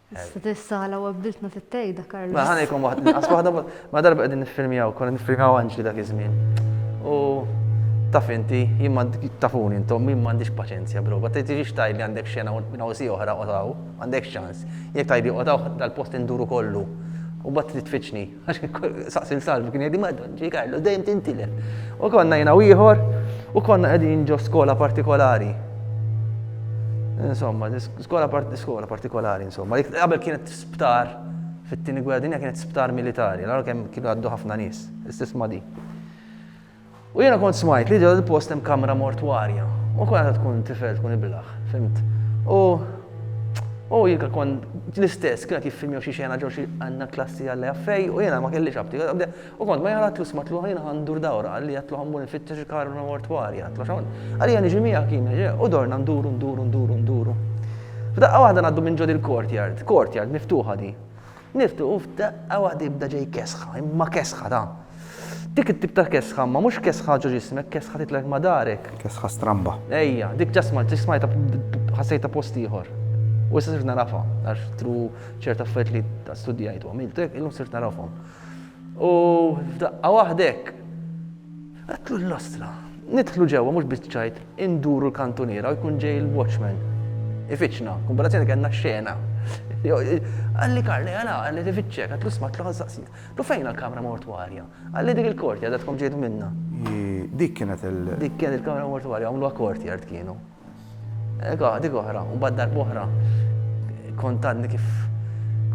Stessala u għabdiltna fit-tejda, Karl. Ma ħanejkom waħd, nqas waħda, ma darba qegħdin niffilmjaw, konna niffilmjaw anġli dak iż-żmien. U taf inti, jien tafuni intom, jien m'għandix paċenzja bro, bat tiġix tajt li għandek xena nawsi oħra qotaw, għandek ċans. Jekk tajt li qotaw dal-post induru kollu. U bat titfiċni, Saqsi l-salv kien jgħidi madon ġi Karlo, dejjem tintilef. U konna jina u ieħor u konna qegħdin ġo skola partikolari. Insomma, skola skola partikolari, insomma. Qabel kienet sptar fit-tieni gwerra dinja kienet sptar militari, l kemm kienu għaddu ħafna nies, istess ma di. U jiena kont smajt li ġo dil-post hemm kamra mortwarja. U kont għadha tkun tifel, tkun ibilaħ, fhimt. U u jien kont l-istess, kien qed jiffilm jew xi xena ġo xi għandna klassi Alla jaf fejn u jiena ma kellix apptit. U kont ma jien għadtlu smatlu ħa jiena ħa ndur dawra, qalli għadtlu ħa mmur infittex il-kamra mortwarja, għadtlu għax hawn. Qalli ħa niġi miegħek jien, ġej, u dorna nduru, nduru, nduru, nduru. F'daqqa waħda ngħaddu minn ġo dil-courtyard, courtyard miftuħa din. Niftu u f'daqqa waħda jibda ġej kesħa, imma kesħa ta'. Dik it-tip ta' kesħa, imma mhux kesħa ġo ġismek, kesħa titlek ma' darek. Kesħa stramba. Ejja, dik ġa smajt, dik smajtha ħassejtha post ieħor. U issa sirt narafha, għax tru ċert affarijiet li studjajt u għamilt hekk, illum sirt narafhom. U f'daqqa waħda hekk. Għedtlu l-lastra. Nidħlu ġewwa mhux biċ-ċajt, induru l-kantuniera u jkun ġej il-watchman. Ifittxna. Kombinazzjoni kellna xena. Qalli Karl, eja la, qed ifittxek, għedtlu isma' għedtlu ħa saqsik. Għedtlu fejn l-kamra mortwarja? Qalli dik il-courtyard għedkom ġejtu minnha. Hi, dik kienet il-. Dik kienet il-kamra mortwarja, għamluha courtyard kienu. Dik oħra, u bad darb oħra, kont għadni kif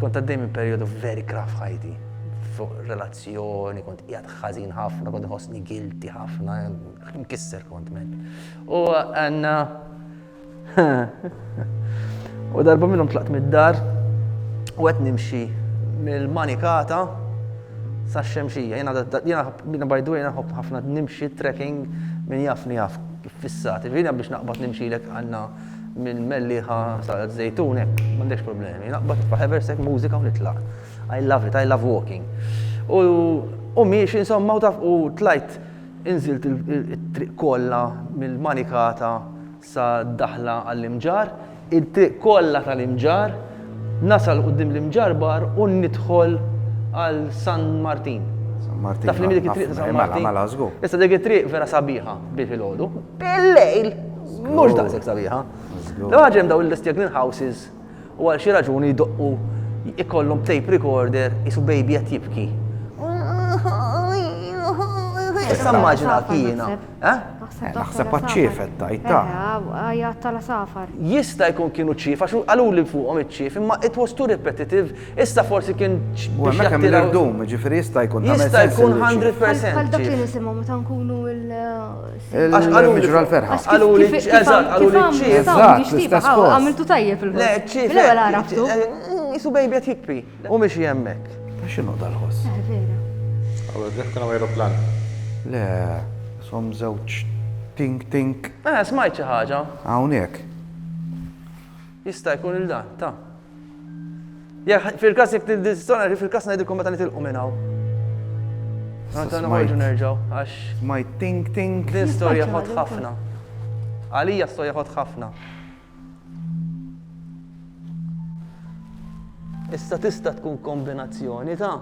kont għaddej minn periodu very graf ħajti. Fuq relazzjoni, kont jgħad ħazin ħafna, kont ħosni guilty ħafna, mkisser kont men. U għanna. U darba minnum tlaqt mid-dar, u għet nimxi mill-manikata sa' xemxija. Jena by the way, ħafna nimxi trekking minn jafni jaf fissati. Ġifieri jiena biex naqbad nimxilek għandna minn Mellieħa sa Żejtun hekk m'għandekx problemi. Naqbad nitfa' Hevershek mużika u nitlaq. I love it, I love walking. U u miexi insomma u taf u tlajt inżilt it-triq kollha mill-Manikata sa daħla għall-Imġarr. it-triq kollha tal-Imġarr, nasal quddiem l-Imġarr Bar u nidħol għal San Martin. San Martin. Taf li dik it-triq ta' San Martin. Mela, mela, żgur. Issa dik it-triq vera sabiħa bi filgħodu. Bil-lejl mhux daqshekk sabiħa. Daw ħaġa hemm daw l-istjagnin houses u għal xi raġuni jdoqqu ikollhom tape recorder isu baby qed jibki. Issa immaġina kiena. Eh? Naħseb għat-ċiefet tajt ta'. Għajat tal-safar. Jista' jkun kienu ċief, għax għalu li fuqhom iċ-ċief, imma it was too repetitive, issa forsi kien biex jattira. Dum, ġifiri jista' jkun ta' Jista' jkun 100%. Għal dak li nisimgħu meta nkunu il- Għax għalu li ġra l-ferħa. Għalu li ċiefet, għalu li ċiefet. Għamiltu tajjeb il-ċiefet. Le, ċiefet. Jisu bejbi għat jikpi. U mixi hemmhekk. Ta' x'inhu dal-ħoss? Eh, vera. Għamel bħal kien hawn ajruplan. Le, ishom żewġ tink tink. Eh, smajt xi ħaġa. Hawnhekk. Jista' jkun il dan, ta. Jekk fil-każ jekk tistona fil-każ ngħidilkom meta nitilqu minn hawn. Meta noħorġu nerġgħu għax. Smajt tink tink. Din storja ħadd ħafna. Għalija storja ħadd ħafna. Issa tista' tkun kombinazzjoni ta'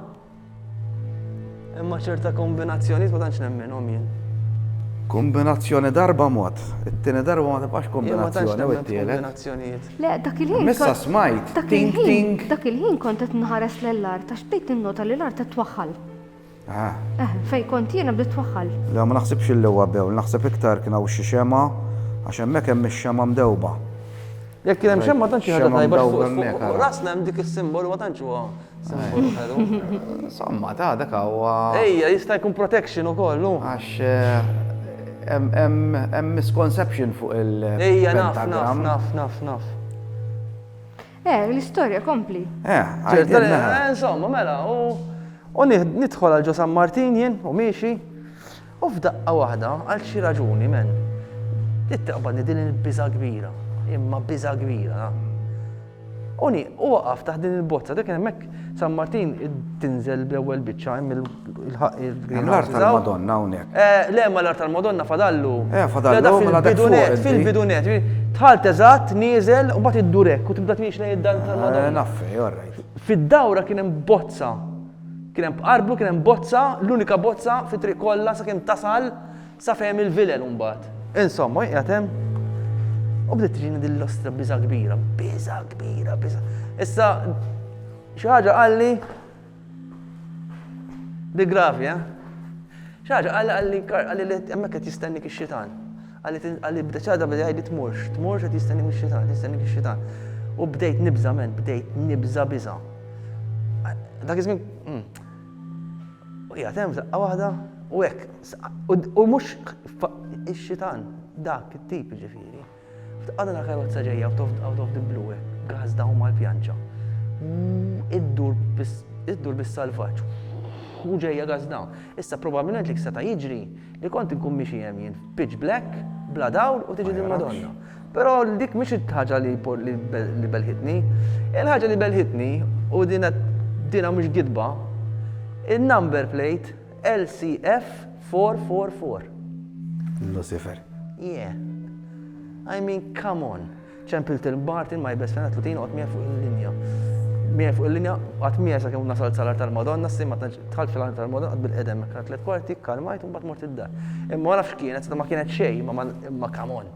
imma ċerta kombinazzjoni ma tantx nemminhom jien. Kombinazzjoni darba mod, it-tieni darba ma tibqax kombinazzjoni u t-tielet. Le, dak il-ħin. Issa smajt. Dak il-ħin. Dak il-ħin kont qed nħares lell-art għax bdejt innota li l-art qed twaħħal. Ah. Eh, fejn kont jiena bdiet twaħħal. Le, ma naħsibx li huwa bewl, naħseb iktar kien hawn xi xema għax hemmhekk hemm ix-xema mdewba. Jekk kien hemm xemma tantx ħaġa tajba fuq rasna hemm dik is-simbolu ma tantx huwa simbolu ħelu. Somma ta' dak huwa. Ejja, jista' jkun protection ukoll, no? Għax eh, hemm misconception fuq il- Ejja, naf, naf, naf, naf, naf. Eh, l-istorja kompli. Eh, għajdilna. Eh, insomma, mela, u nidħol għal ġo San Martin jien u miexi. U f'daqqa waħda, għal xi raġuni, men, it-taqbadni din il-biża kbira, imma biża kbira. Uni, u waqaf taħt din il-bozza, dik hemmhekk San Martin tinżel bl-ewwel biċċa hemm Il-ħaq il-green. Hemm l-art tal-Madonna hawnhekk. Eh, le ma l-art tal-Madonna fadallu. Eh, fadallu, ma mela dak fil-bidunet, fil-bidunet. Tħalt eżatt, nieżel, u mbagħad iddurek u tibda tmiex lejn id-dan tal-Madonna. Eh, naffi, all right. Fid-dawra kien hemm bozza Kien hemm bqarblu, kien hemm bozza, l-unika bozza fi triq kollha sakemm tasal sa fehem il-vilel mbagħad. Insomma, qiegħed hemm u bdiet tiġini din l-ostra biża kbira, biża kbira, biża. Issa xi ħaġa qalli Di gravi, eh? Xi ħaġa qal qalli qalli li hemmhekk qed jistennik ix-xitan. Qalli bda ċada bda jgħidli tmurx, tmurx qed jistennik ix-xitan, jistennik ix-xitan. U bdejt nibża men, bdejt nibża biża. Dak iż-żmien hmm. u hija hemm saqqa waħda u hekk. U mhux ix-xitan dak it-tip ġifieri. Tqatta' ta' karozza ġejja out of, out of the blue hekk, għażda u mal-pjanċa. Iddur bis- iddur bis-salvaġġ. U ġejja għażda. Issa probabbilment li seta' jiġri li kont inkun mixi hemm jien f'pitch black, bla dawl u tiġi dil-Madonna. Però dik mhix il-ħaġa li por- li be- li belħitni. Il-ħaġa li belħitni, u din qed dinha mhux gidba, in-number plate. LCF 444. Lucifer. Yeah. I mean, come on. ċempil til Martin ma jibes fena tlutin għot mija fuq il-linja. Mija fuq il-linja, għat mija sa' kem nasal salar tal-Madonna, s-sim għat tħal fil-għan tal-Madonna, għat bil-edem, għat let kwarti, kalmajt, un bat mort id-dar. Imma għana f'kienet, ma kienet xej, ma kamon.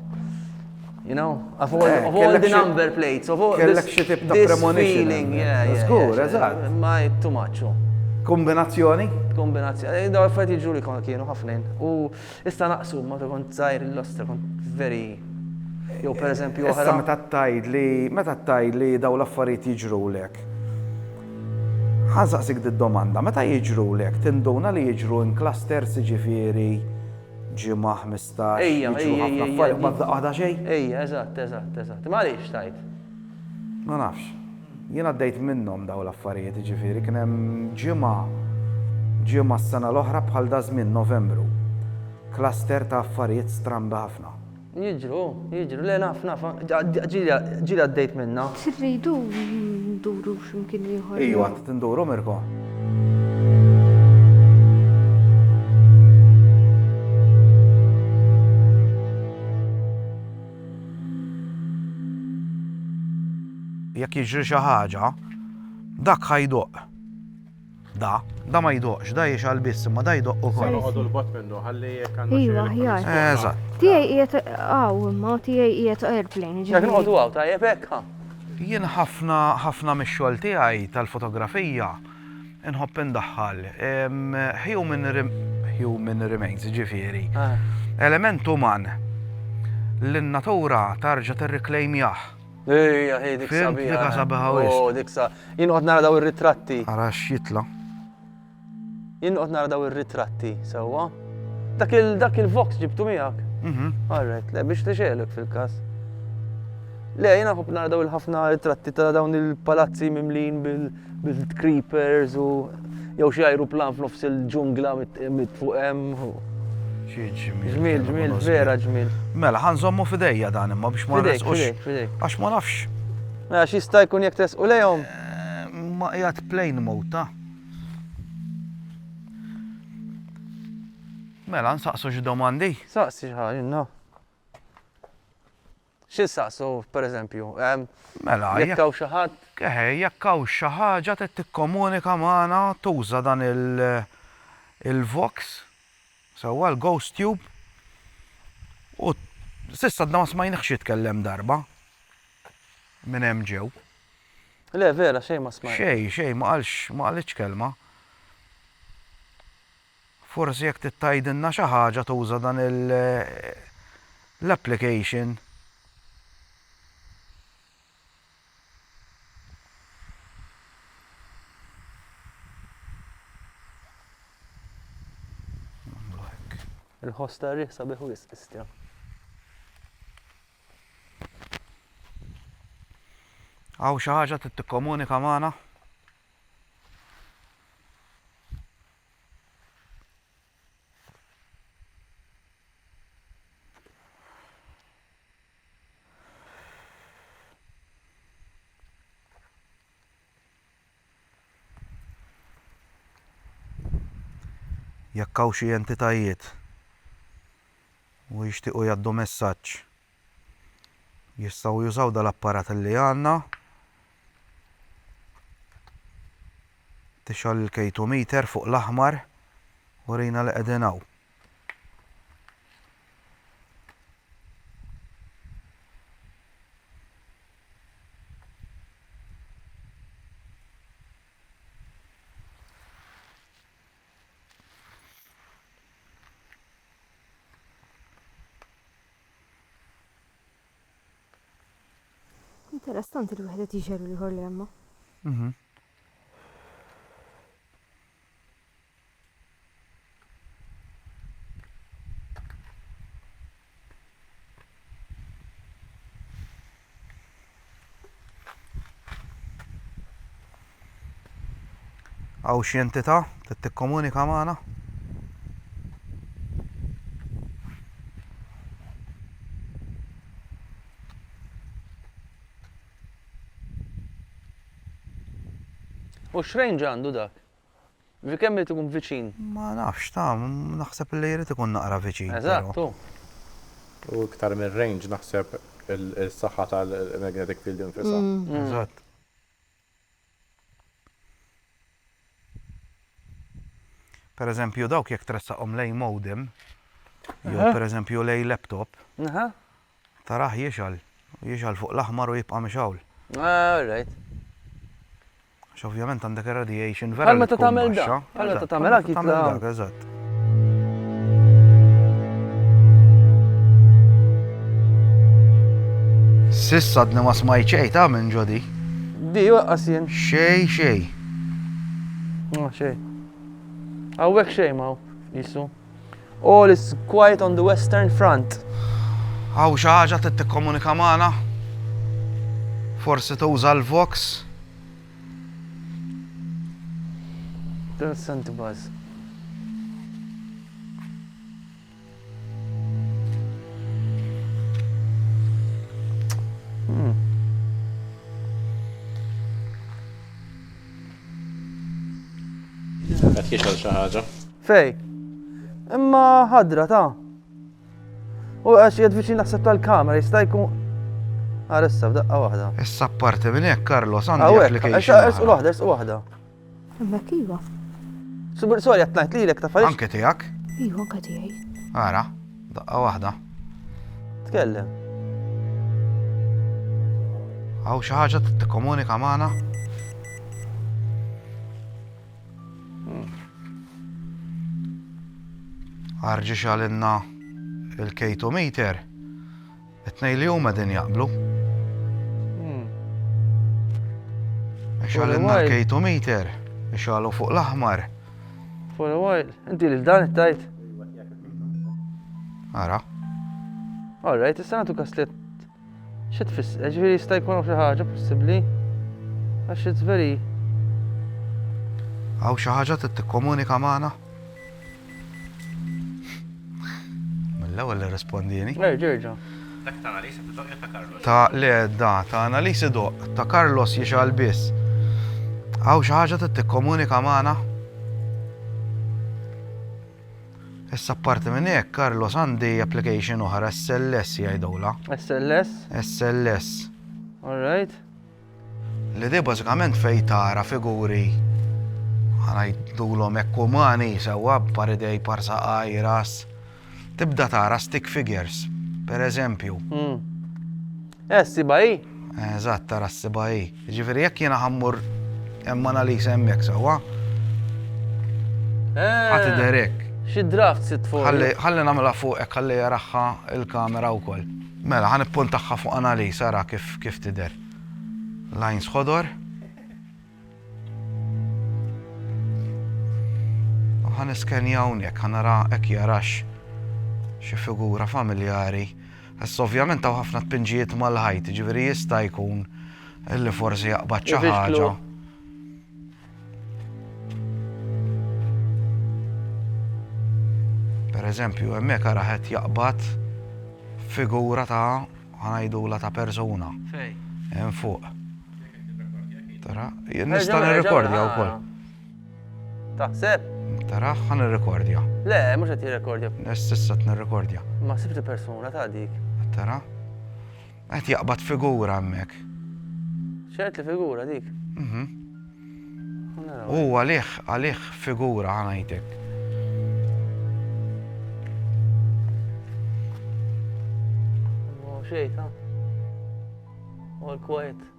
You know, of all, eh, of all the number plates, of all this, this feeling, yeah, yeah. Zgur, eżatt. Ma too much. Oh. Kombinazzjoni? Kombinazzjoni. Eh, da għaffet iġu li kon kienu ħafnin. U issa naqsu, ma ta' kont zaħir l-loster, kont very Jow per eżempju oħra. Issa meta tajd li meta tajd li daw l-affarijiet jiġru lek. Ħansaqsik d-domanda, meta jiġru lek, tinduna li jiġru in clusters ġifieri ġimgħa Jista' Ejja, jiġru ejja, ħafna ejja, affarijiet ejja. ma f'daqqa waħda xejn. Ejja, eżatt, eżatt, eżatt. Imma għaliex tgħid? Ma nafx. Jien għaddejt minnhom dawn l-affarijiet, jiġifieri kien hemm ġimgħa, ġimgħa s-sena l-oħra bħal daż-żmien, Novembru. Cluster ta' affarijiet strambi ħafna. Jiġru. Jiġru lejn ħafna ġili għaddejt minnha. Tridu nduru x'imkien ieħor? Ejju għad tinduru Mirko. Jekk jiġri xi ħaġa, dak ħajdoq. Da, da ma jdoqx, da jixgħal biss, imma da jdoq ukoll. Noqogħdu l-bot minnu ħalli jekk għandna Iva, aħjar. Eżatt. Tiegħi qiegħed hawn imma tiegħi qiegħed airplane. Jekk noqogħdu hawn tajjeb hekk ha. Jien ħafna ħafna mix-xogħol tiegħi tal-fotografija nħobb indaħħal human human remains, ġifieri. Ah. Element uman li n-natura tarġa' tirriklejmjah. Ejja, hi dik Fimt, sabiħa. dika sabiħa wisq. Oh, dik sa. Jien qod nara daw ir-ritratti. Ara x'jitla. Jien qod nara daw ir-ritratti sewwa. Dak il dak il-vox ġibtu miegħek. Mhm. Alright, le biex tixelek fil-każ. Le, jiena ħobb nara daw il-ħafna ritratti ta' dawn il-palazzi mimlin bil- Bil-creepers u jew xi ajruplan f'nofs il-ġungla mit fuq hemm. Ġmil, ġmil, vera ġmil. Mela, ħanżommu fidejja dan imma biex ma nresqux. Għax ma nafx. Mela, xista jkun jek tresqu lejhom? Eh, ma jgħat plain mota. Mela, nsaqsu xi domandi? Saqsi xi ħaġa, no. Xi nsaqsu, pereżempju? Mela, jekk hawn xi ħadd. Eħe, jekk hawn xi ħaġa trid tikkomunika magħna tuża dan il-vox, sewwa, l-ghost tube, u s'issa għadna ma smajniehx jitkellem darba minn hemm ġew. Le, vera, xejn ma smajt. Xejn, xejn, ma qalx, ma qalitx kelma. Forsi jekk trid tgħidilna xi ħaġa tuża dan l-application. Il-ħoss tar-riħ sabiħ wisq, Istja. Hawn xi ħaġa trid tikkomunika magħna? Jekk hawn xi entitajiet u jixtiequ jgħaddu messaġġ jistgħu jużaw dal-apparat li għandna. Tixgħol il-K2 meter fuq l-aħmar u rina li qegħdin hawn. Interessanti li wieħed qed jixher u l-ieħor le ma. Mhm. Għaw xi entità trid tikkomunika magħna? U x'range għandu dak? Ġifieri kemm irid ikun viċin? Ma nafx, ta, naħseb li jrid ikun naqra viċin. Eżatt, u. U iktar mir-range naħseb is-saħħa tal-magnetic field infisha. Eżatt. Per eżempju dawk jekk tressaqhom lejn modem, jew per eżempju lejn laptop, tarah jixgħal, jixgħal fuq l-aħmar u jibqa' mixgħul. All right. Għax ovvjament għandek ir-radiation vera. Għal meta tagħmel dak. Għal meta tagħmel dak jitla'. Eżatt. Sissa dni ma smajt xej ta' minn ġodi. Di waqqas jien. Xej, xej. Ma xej. Għawek xej ma' jisu. All is quiet on the Western Front. Hawn xi ħaġa trid tikkomunika magħna? Forsi tuża l-Vox? Vincent Buzz. Qed jixgħel xi ħaġa. Fej. Imma ħadra ta'. U għax jgħad viċin naħseb tal-kamera, jista' jkun. Għarissa, f'daqqa waħda. Issa parti minn hekk, Carlos, għandi application. Issa u waħda, issa waħda. Imma kiva. Subir sorry għatnajt li l-ek tafariġ. Anke tijak? Iwa, anke tijaj. Għara, daqqa wahda. Tkellem. Għaw xaħġa t-komunika maħna? Arġi xalinna il-K2 meter, it-tnej li huma din jaqblu. Xalinna il-K2 meter, xalu fuq l-aħmar. For a while, inti li dan it-tajt? Ara. All right, issa nagħtu kaslet Xi tfisser? Jiġifieri jista' jkun hawn xi ħaġa possibbli għax it's very Hawn xi ħaġa trid tikkomunika magħna? Mill-ewwel irrispondieni. Erġa' erġa'. Dak ta' Analisi doq ta' Carlos. Ta' le da ta' Analisi doq ta' Carlos jixgħal biss. Hawn xi ħaġa trid tikkomunika magħna? Issa apparti minn hekk, Carlos għandi application oħra SLS jgħidulha. SLS? SLS. All right. Li di bażikament fejn tara figuri ħanajdulhom hekk umani sewwa paridej parsa għajras. Tibda tara stick figures, per eżempju. Hmm. Eh, sibai? Eżatt, tara sibai. Jiġifieri jekk jiena ħa mmur hemm Annalisa hemmhekk sewwa. Ħadd eh, idher hekk. Xi draft sitt fuq. Ħalli nagħmilha fuq hekk ħalli jaraħħa l-kamera wkoll. Mela, ħan ippuntaħħa fuq Annalisa ara kif kif tidher. Lines ħodor. ħan iskenja hawnhekk ħan nara hekk jarax xi figura familjari. Issa ovvjament hawn ħafna tpinġijiet mal-ħajt, jiġifieri jista' jkun li forsi jaqbad xi ħaġa. Per eżempju, hemmhekk ara qed jaqbad figura ta' ħanajdula ta' persuna. Hemm fuq. Tara, nista' nirrekordja wkoll. Taħseb? Tara, ħan nirrekordja. Le, mhux qed jirrekordja. Nessissa nirrekordja. Ma sibt il-persuna ta' dik. Tara? Qed jaqbad figura hemmhekk. ċert li figura dik. Mhm. U għalih, għalih figura ħanajtek. Xejta. All quiet.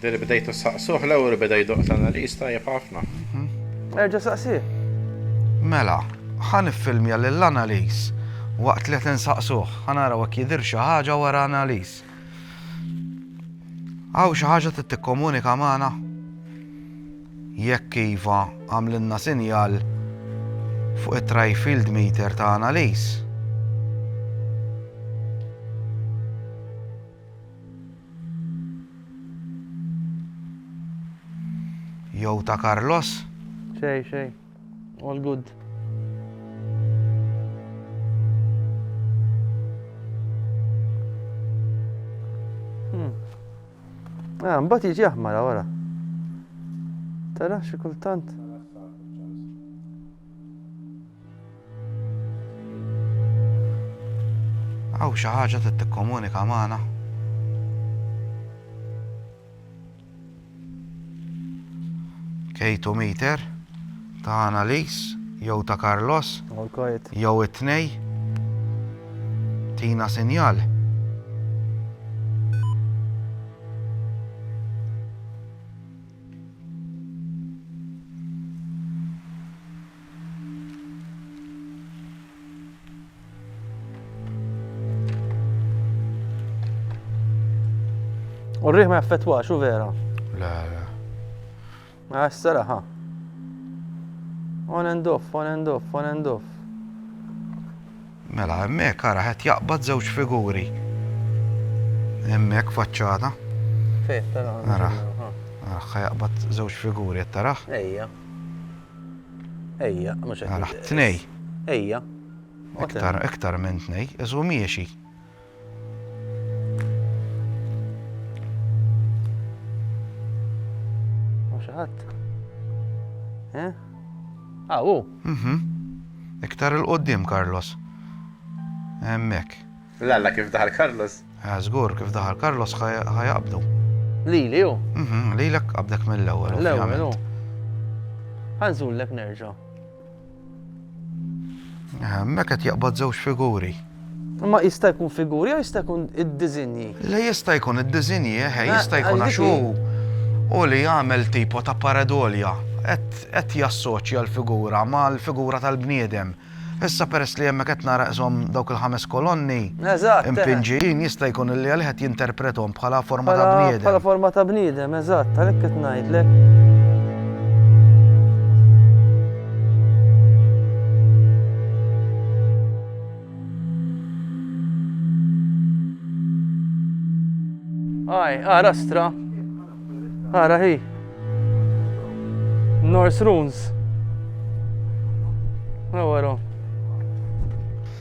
Diri bdejtu saqsuh l-ewwel u beda jdoqq l-analiż tajjeb ħafna. Erġa' saqsih. Mela, ħa niffilmja lill-analiż waqt li qed insaqsuh. Ħa naraw jekk jidhirx xi ħaġa wara analiż. Hawn xi ħaġa trid tikkomunika magħna? Jekk iva, agħmlilna sinjal fuq it-trifield meter ta' analiż. Jew ta' Carlos? Xej, xej. All good. Ah, mbagħad jiġi aħmara wara. Tara xi kultant. Aw xi ħaġa trid tikkomunika magħna. K2 meter. Ta' Analis jew ta' Carlos jew it-tnej? Tina sinjal. U rriħ ma jaffettwax, u vera? Le, le. Ma jassara ha. On and off, on and off, on and off. Mela, hemmhekk ara qed jaqbad żewġ figuri. Hemmhekk faċċata. Fejn tara. Ara. Ara jaqbad żewġ figuri qed taraħ. Ejja. Ejja, mhux qed. Ara, tnej. Ejja. Iktar, iktar minn tnej, iżu miexi. ħadd. Eh? Ah, u. Mhm. Iktar il-qoddim, Carlos. Emmek. Lalla kif daħal Carlos? Ah, Zgur, kif daħal Carlos ħajabdu. Lili, u? Mhm, lilek qabdek mill-ewwel. L-ewwel, u. Ħanżullek nerġa'. Hemmhekk qed jaqbad żewġ figuri. Ma jista' jkun figuri jew jista' jkun id-diżinji? Le jista' jkun id-diżinji, eħe, eh, jista' jkun għax u li jagħmel tipo ta' paredolja qed jassoċja l-figura mal-figura tal-bniedem. Issa peress li hemmhekk qed nara qishom dawk il-ħames kolonni, Eżatt, eh. Impinġijin jista' jkun li għalih qed jinterpretom bħala forma ta' bniedem. Bħala forma ta' bniedem, eżatt, għalhekk qed ngħidlek. Aj, ara stra. Ara hi. Norse runes. Għawara.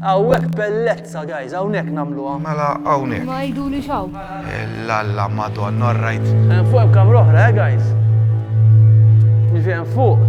Hawnhekk bellezza, guys, hawnhekk nagħmluha. Mela hawnhekk. Ma jiduli xaw. Lalla madonna, all right. Hemm fuq hemm kamra oħra, eh, guys. Jiġi hemm fuq.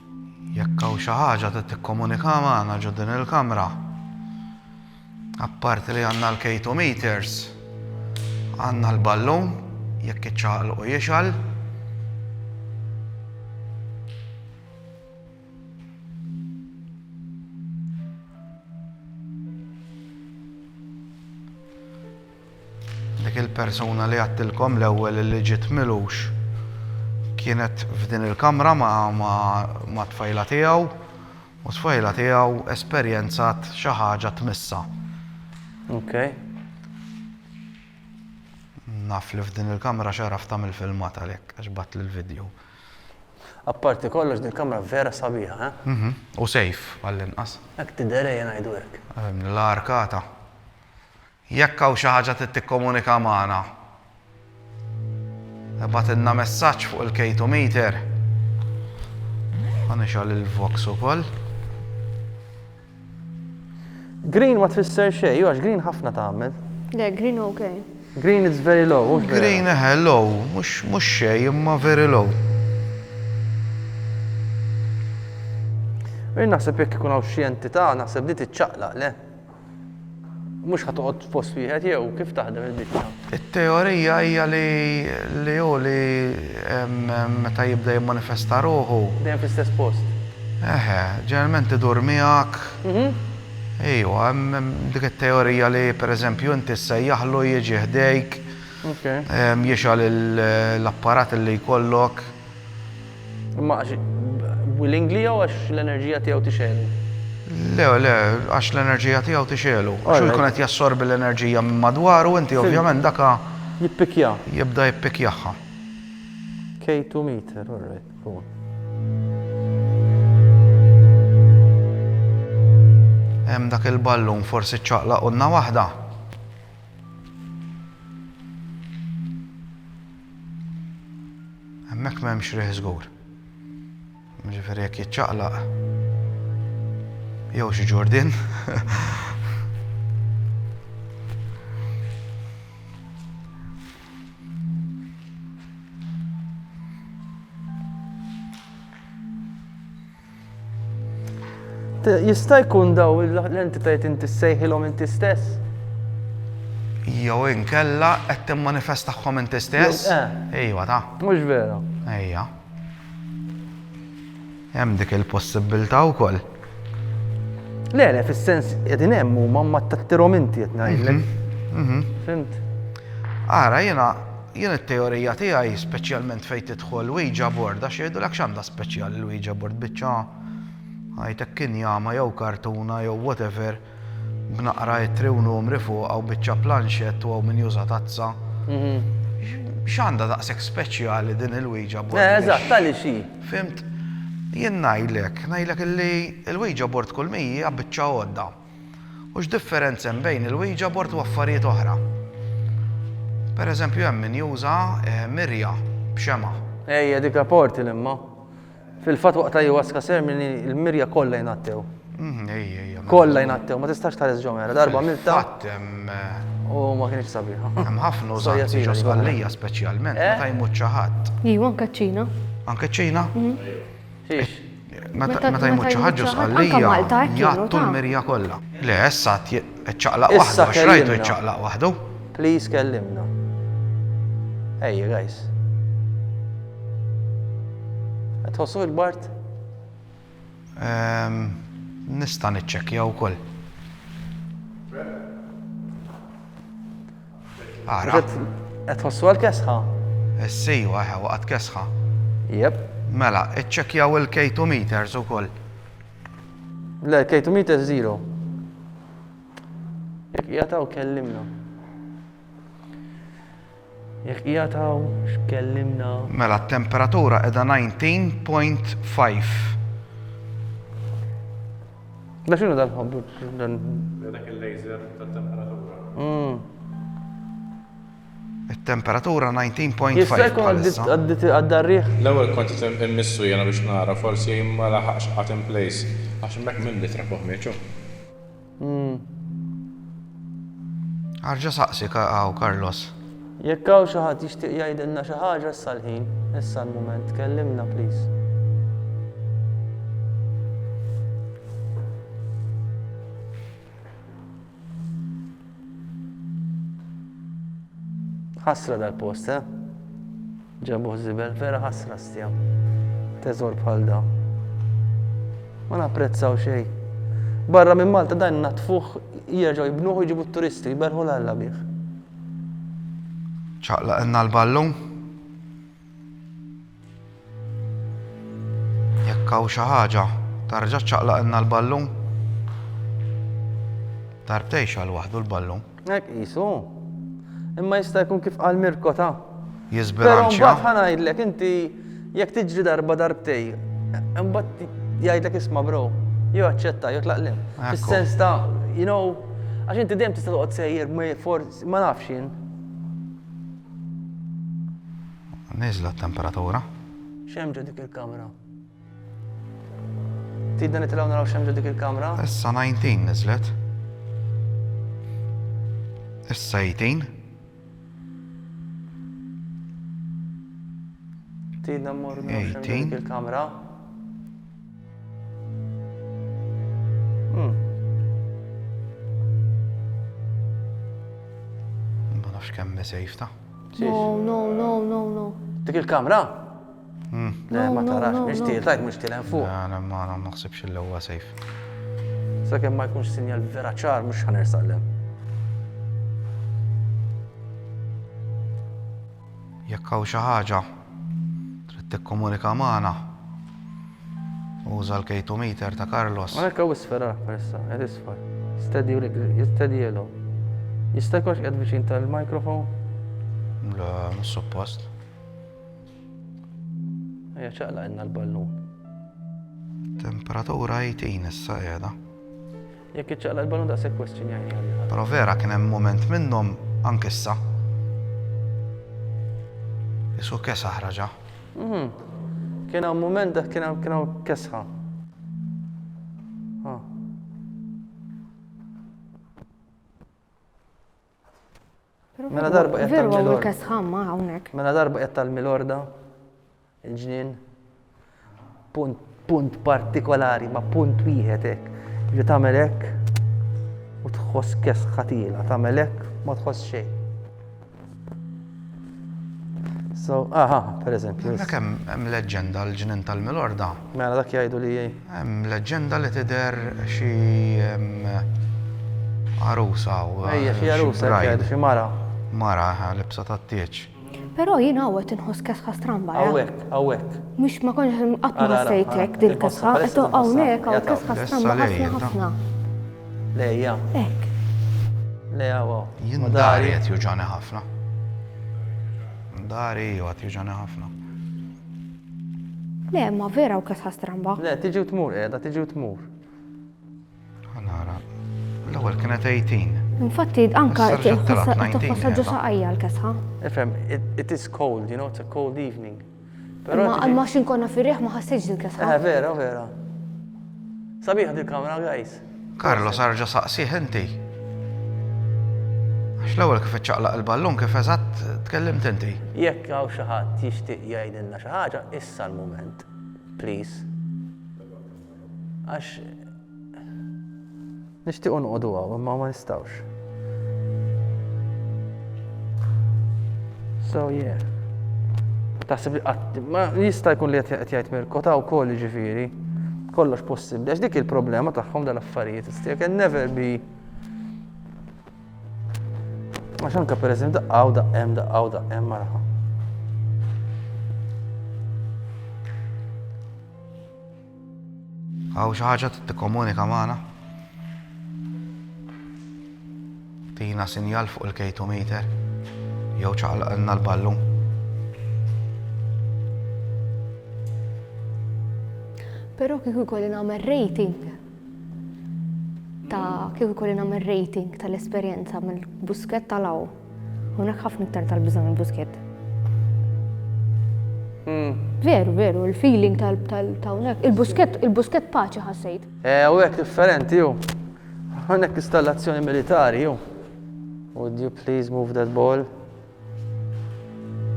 Jekk hawn xi ħaġa trid tikkomunika magħna ġo din il-kamra, apparti li għandna l-K2 meters, għandna l-ballun jekk iċċaqlqu jixgħal. Dik il-persuna li għedtilkom l-ewwel illi ġiet Milux kienet f'din il-kamra mat-tfajla tiegħu u t-tfajla tiegħu esperjenzat xi ħaġa tmissha. Ok. Naf li f'din il-kamra x'għaraft tagħmel filmat għalhekk għax bgħattli l-vidjow. Apparti kollox din il-kamra vera sabiħa, eh? U safe għall-inqas. Hekk tidher ejja ngħidu hekk. L-arkata. Jekk hawn xi ħaġa trid tikkomunika magħna, ibgħatilna messaġġ fuq il-K2Meter. Ħa nixgħel il-Vox ukoll. Green ma tfisser xejn, għax green ħafna tagħmel. Le, green ok. Green it's very low, mhux vera. Green eħe, low, mhux xejn imma very low. Jien naħseb jekk ikun hawn xi entità, naħseb di tiċċaqlaq, le? Mhux ħa toqgħod f'post wieħed jew kif taħdem il-biċċa? It-teorija hija li hu li meta jibda jimmanifesta ruħu. Dejjem fl-istess post. Eħe, ġeneralment idur miegħek. Mhm. Ejwa, hemm dik it-teorija li pereżempju inti ssejjaħlu jiġi ħdejk. Jixgħal l-apparat li jkollok. Imma għax willingly jew għax l-enerġija tiegħu tixegħlu? Le, le, għax l-enerġija tiegħu tixegħlu. Għax hu jkun qed jassorbi l-enerġija minn madwaru u inti ovvjament daka. Jippikja. Jibda jippikjaha. K2 meter, all right, go on. Hemm dak il-ballun forsi ċċaqlaq qunna waħda. Hemmhekk m'hemmx riħ żgur. Ġifieri jekk jiċċaqlaq jew xi ġurdin. Jista' jkun daw l-entitajiet inti ssejħilhom inti stess? Jew inkella qed timmanifestahom inti stess? Eh. Ejwa ta. Mhux vera. Ejja. Hemm dik il-possibilità wkoll. Le, le, fis-sens qegħdin hemm huma ma tattirhom inti qed ngħidlek. Mhm, mhm. Fimt? Ara jiena Jien it-teorija tiegħi, speċjalment fejn tidħol Ouija board, għax jgħidulek x'għandha speċjali l-Ouija board, biċċa ħajt hekk injama jew kartuna jew whatever b'naqra ittri u numri fuqha u biċċa planxett u hawn min juża tazza. X'għandha daqshekk speċjali din il-Ouija board? Eh, eżatt, għaliex hi? Fhimt? Jien ngħidlek, ngħidlek illi l-Ouija board kull mi hija biċċa għodda. U x'differenza hemm bejn il-Ouija board u affarijiet oħra? Per eżempju hemm min juża eh, mirja b'xema. Ejja dik rapporti l-imma. Fil-fatt waqt ayahuasca ceremony l-mirja kollha jnattew. Mhm, ejja, ejja. Mela. Kollha jnattew, ma tistax tħares ġo mera, darba milta Fatt hemm eh, u ma kienx sabiħa. hemm ħafna Storja użanzi twila ġo li kollha. sqallija speċjalment Eh? meta jmut xi ħadd. Iva, anke ċ-Ċina. Anke ċ-Ċina? Xiex? Meta jmut xi ħadd ġo Sqallija, jgħattu l-mirja kollha. Le, issa qed ċaqlaq waħdu għax rajtu jċaqlaq waħdu. Please kellimna. Ejja guys. Qed tħossuh kbart? Ehm, nista' niċċekkja wkoll. Ara. Qed tħossu għal kesħa? Essi, waħe, waqgħet kesħa. Jep. Mela, iċċekjaw il-K2 meters ukoll. Le, K2 meters zero. Jek jgħataw kellimna. Jek jgħataw x'kellimna. Mela, t-temperatura edha 19.5. Da xinu dan ħobbu? Dan. Dak il-laser tal-temperatura. Hmm. Il-temperatura 19.5. Jista' jkun għaddarriħ? L-ewwel kont immissu jena biex nara forsi ma laħaqx qatt in place għax mek minn litra fuq mieċu. Hmm. Arġa saqsi għaw Carlos. Jekk hawn xi ħadd jixtieq jgħidilna xi ħaġa issa l-ħin, issa l-mument, kellimna please. Ħasra dal-post, eh? Ġabuh zibel, vera ħasra stjam. Teżor bħal da. Ma napprezzaw xej. Barra minn Malta dan natfuħ jirġaw jibnuħu jġibu t-turisti, jberħu l-alla bih. ċaqlaqilna l-ballun. Jekk hawn xi ħaġa, tarġa' ċaqlaqilna l-ballun. Darbtejn xal waħdu l-ballun. Hekk qisu. Imma jista' jkun kif qal Mirko ta'. Jisbilanċja. Però mbagħad ħanajdlek inti Jekk tiġri darba darbtej, imbagħad jgħidlek isma' bro, jew aċċetta jew tlaq lil. Fis-sens ta' you know, għax inti dejjem tista' toqgħod sejjer ma forsi ma nafx jien. Niżla t-temperatura. X'hemm ġo dik il-kamra? Tidna nitilgħu naraw x'hemm ġo dik il-kamra? Issa 19 niżlet. Issa 18. Tidna mmorru nirxu dik il-kamra. Hmm. Ma nafx kemm mesejfta. No, no, no, no, no. Dik il-kamra? Le, ma tarax, mhix tiel, tajt mhux tiel hemm fuq. Le, le, ma naħsibx li huwa safe. Sakemm ma jkunx sinjal vera ċar mhux ħa nersaq lem. Jekk hawn xi ħaġa trid tikkomunika magħna. Uża l-K2 meter ta' Carlos. Ma jekk hawn isfera persa, qed isfar. Steady u steady yellow. Jista' jkunx qed viċin tal-microphone? Le, mhux suppost. Ejja ċaqla inna l-ballun. Temperatura 18 issa qiegħda. Jekk iċċaqla l-ballun daqshekk question jgħin. Però vera kien hemm moment minnhom anke issa. Isu kesħa ħraġa. Mhm. Kien hawn moment dak kien hawn kien hawn kesħa. Mela darba qed Veru għamlu tal-milorda. kesħamma hawnhekk. Mela darba qed tal-milorda, il-ġnien, punt, punt partikolari, ma punt wieħed hekk. Ġi tagħmel hekk u tħoss kesħa tiela, tagħmel hekk ma tħoss xejn. So, aha, per eżempju. Dak hemm hemm leġġenda l-ġnien tal-milorda. Mela dak jgħidu li Hemm leġġenda li tidher xi għarusa hawn. Ejja, xi għarusa qed jgħidu, xi mara. Mara, aha, libsa tat-tieġ. Però jien hawn qed inħoss kesħa stramba, jaf. Hawnhekk, hawnhekk. Mhux ma kontx qatt ma ħassejt hekk din il-kesħa. Eto, hawnhekk hawn kesħa stramba ħafna ħafna. Lejja. Hekk. Le, hawn hawn. Jien dari qed juġgħani ħafna. Dari, iva, qed juġgħani ħafna. Le, imma vera hu kesħa stramba. Le, tiġi u tmur qiegħda, tiġi u tmur. Ħa nara. L-ewwel kienet 18. Infatti, anka tħossha ġo saqajja l-kesħa. Ifhem, it is cold, you know, it's a cold evening. Ma għax inkonna fir-riħ ma ħassejx il-kesħa. Eh, vera, vera. Sabiħ dil-kamra, guys. Carlos arġa' saqsih inti. Għax l-ewwel kif iċċaqlaq il-ballun kif eżatt tkellimt inti. Jekk hawn xi ħadd jixtieq jgħidilna xi ħaġa issa l-mument, please. Għax nixtiequ noqogħdu hawn imma ma nistgħux. So yeah. Taħseb li qatt ma jista' jkun li qed jgħid Mirko ta' wkoll ġifieri. Kollox possibbli għax dik il-problema tagħhom dal-affarijiet. Still can never be Għax anka per eżempju daqqaw daqqem daqqaw daqqem marħa. Hawn xi ħaġa trid tikkomunika magħna? Tina sinjal fuq il-kejtometer jew ċaqlaqilna l-ballun. Però kieku jkolli nagħmel rating ta' kieku jkolli nagħmel rating tal-esperjenza mill-busket tal-aw. Unak ħafna iktar tal-biża minn Busket. Hmm. Veru, veru, il-feeling tal-tawnek. Il-busket, il-busket paċi ħassejt. Eh, u għek differenti ju. Għannek installazzjoni militari ju. Would you please move that ball?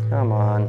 Come on.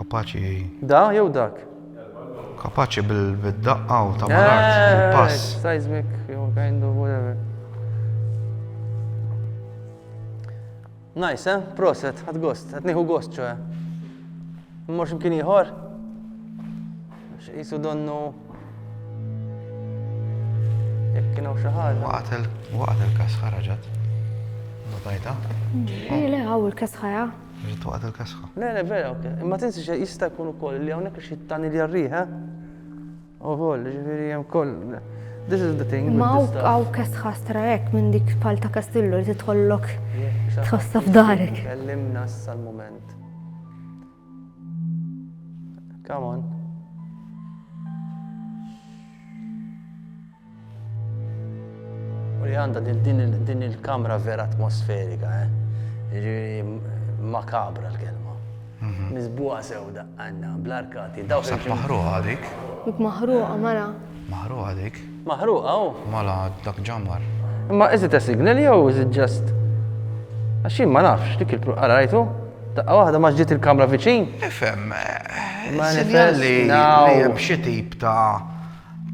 Kapaċi. Da jew dak? Kapaċi bil-daqqa u ta' malart, eh, bil-pass. Seismic, jew kind of whatever. Nice, eh? Proset, għad gost, għad nieħu gost ċoħe. Mmorx mkien iħor? X'isu donnu. Jekk kienu xi ħaġa. Waqgħet il-kas ħaraġat. Notajta? Ejja, eh, le, għaw il-kas ħajja. Ġiet waqgħet il-kesħa. Le, le, vera, ok. Imma tinsi xe jista' jkun ukoll li hawnhekk xi tani li jarrieħ, eh? Ukoll, ġifieri hemm koll. This is the thing. Ma hawn kesħa stra hekk minn dik pal ta' Kastillu li tidħollok tħossha f'darek. Kellimna issa l-mument. Come on. U li għanda din il-kamra vera atmosferika, eh? makabra l-kelma. Mhm. Mizbuqa sewda għanna, bl-arkati, daw Sab maħruqa dik. Maħruqa, mara. Maħruqa dik. Maħruqa, u. Oh. Mala, dak ġamar. Ma iżit a signal jew iżit ġast. Għaxin ma nafx, dik il-pru, għara rajtu? Daqqa waħda ma ġiet il-kamra viċin. Ifem, eh, sinjal li hemm xi tip ta'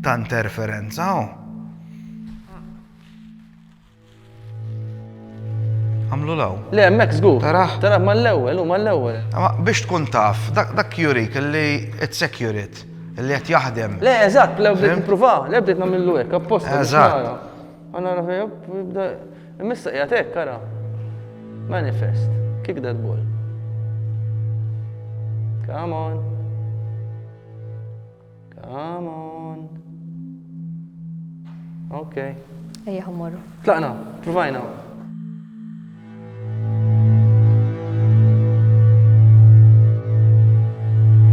ta' interferenza hawn. Għamlu law. Le, mek zgur. Taraħ. Taraħ ma l-ewel, u ma l-ewel. Biex tkun taf, dak jurik li it's securit, li għet jahdem. Le, eżat, le bdejt nipruva, le bdejt namillu ek, apposta. Eżat. Għana rafija, bda, missa jgħat ek, kara. Manifest, kick that ball. Come on. Come on. Ok. Ejja ħammorru. Tlaqna, provajna.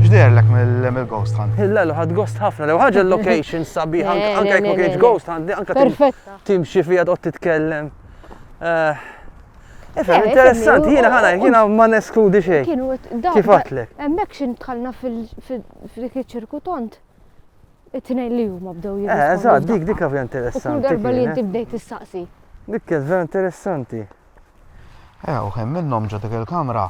X'derlek mill-ghost hunt? Illa l ħad ghost ħafna, lew ħaġa l-location sabi, anka jekk ma kienx ghost hunt, anka timxi fija tqgħod titkellem. Eh, Efem, interessanti, jina ħana, jina ma neskludi xej. Kienu, Kif għatlek? Emmek xin tħalna fil f'dik iċ-ċirkutont it-tnejn li huma bdew jirrispondu. Eh, eżatt, dik dik vera interessanti. Kull darba li inti bdejt tistaqsi. Dik kienet vera interessanti. Eh, u hemm minnhom ġo dik il-kamra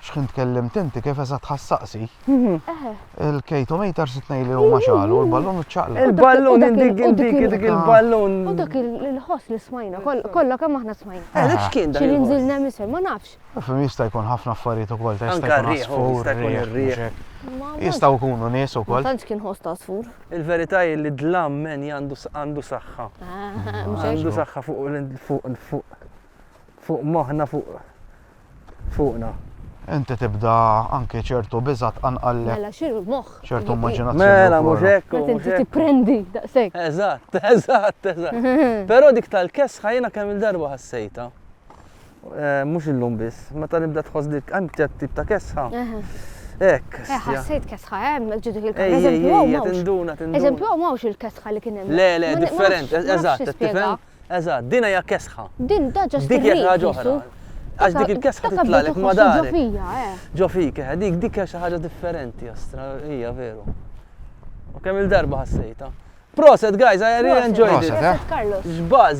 xħin tkellim tinti kif eżat ħassaqsi. Mhm. Eh. Il-kejtometer sitnej li huma xalu, l-ballun ċaqla. Il-ballun indik indik dik il-ballun. U dak il-ħoss li smajna, kollha kemm aħna smajna. Eh, dak x'kien dak. Xi nżilna misel, ma nafx. Fim jista' jkun ħafna affarijiet ukoll ta' jista' jkun għasfur, jistgħu jkunu nies ukoll. Ma tantx kien ħoss ta' għasfur. Il-verità hi li dlam men għandu saħħa. Għandu saħħa fuq fuq moħħna fuq fuqna. Inti tibda anke ċertu biża' tqanqallek. Mela x'inhu moħħ? ċertu immaġinazzjoni. Mela mhux hekk. Qed inti tipprendi daqshekk. Eżatt, eżatt, eżatt. Però dik tal-kesħa jiena kemm il-darba ħassejtha. Mhux illum biss. Meta nibda tħoss dik hemm ċert tip ta' kesħa. Hekk. Eh, ħassejt kesħa hemm, eh, ġidu il-kesħa. Ej, ej, ej, tinduna, tinduna. Eżempju, hawn mawx il-kesħa li kien hemm. Le, le, different, eżatt, tifhem? Eżatt, din hija kesħa. Din da ġast. Dik hija ħaġa oħra. Għax dik il-kesħa titlalek ma dar. Ġo fija, eh. Ġo fik, eh, dik dik hija xi ħaġa differenti, astra, hija veru. U kemm il-darba ħassejta. Proset, guys, I really enjoyed it. Proset, eh? Carlos. Xbaz.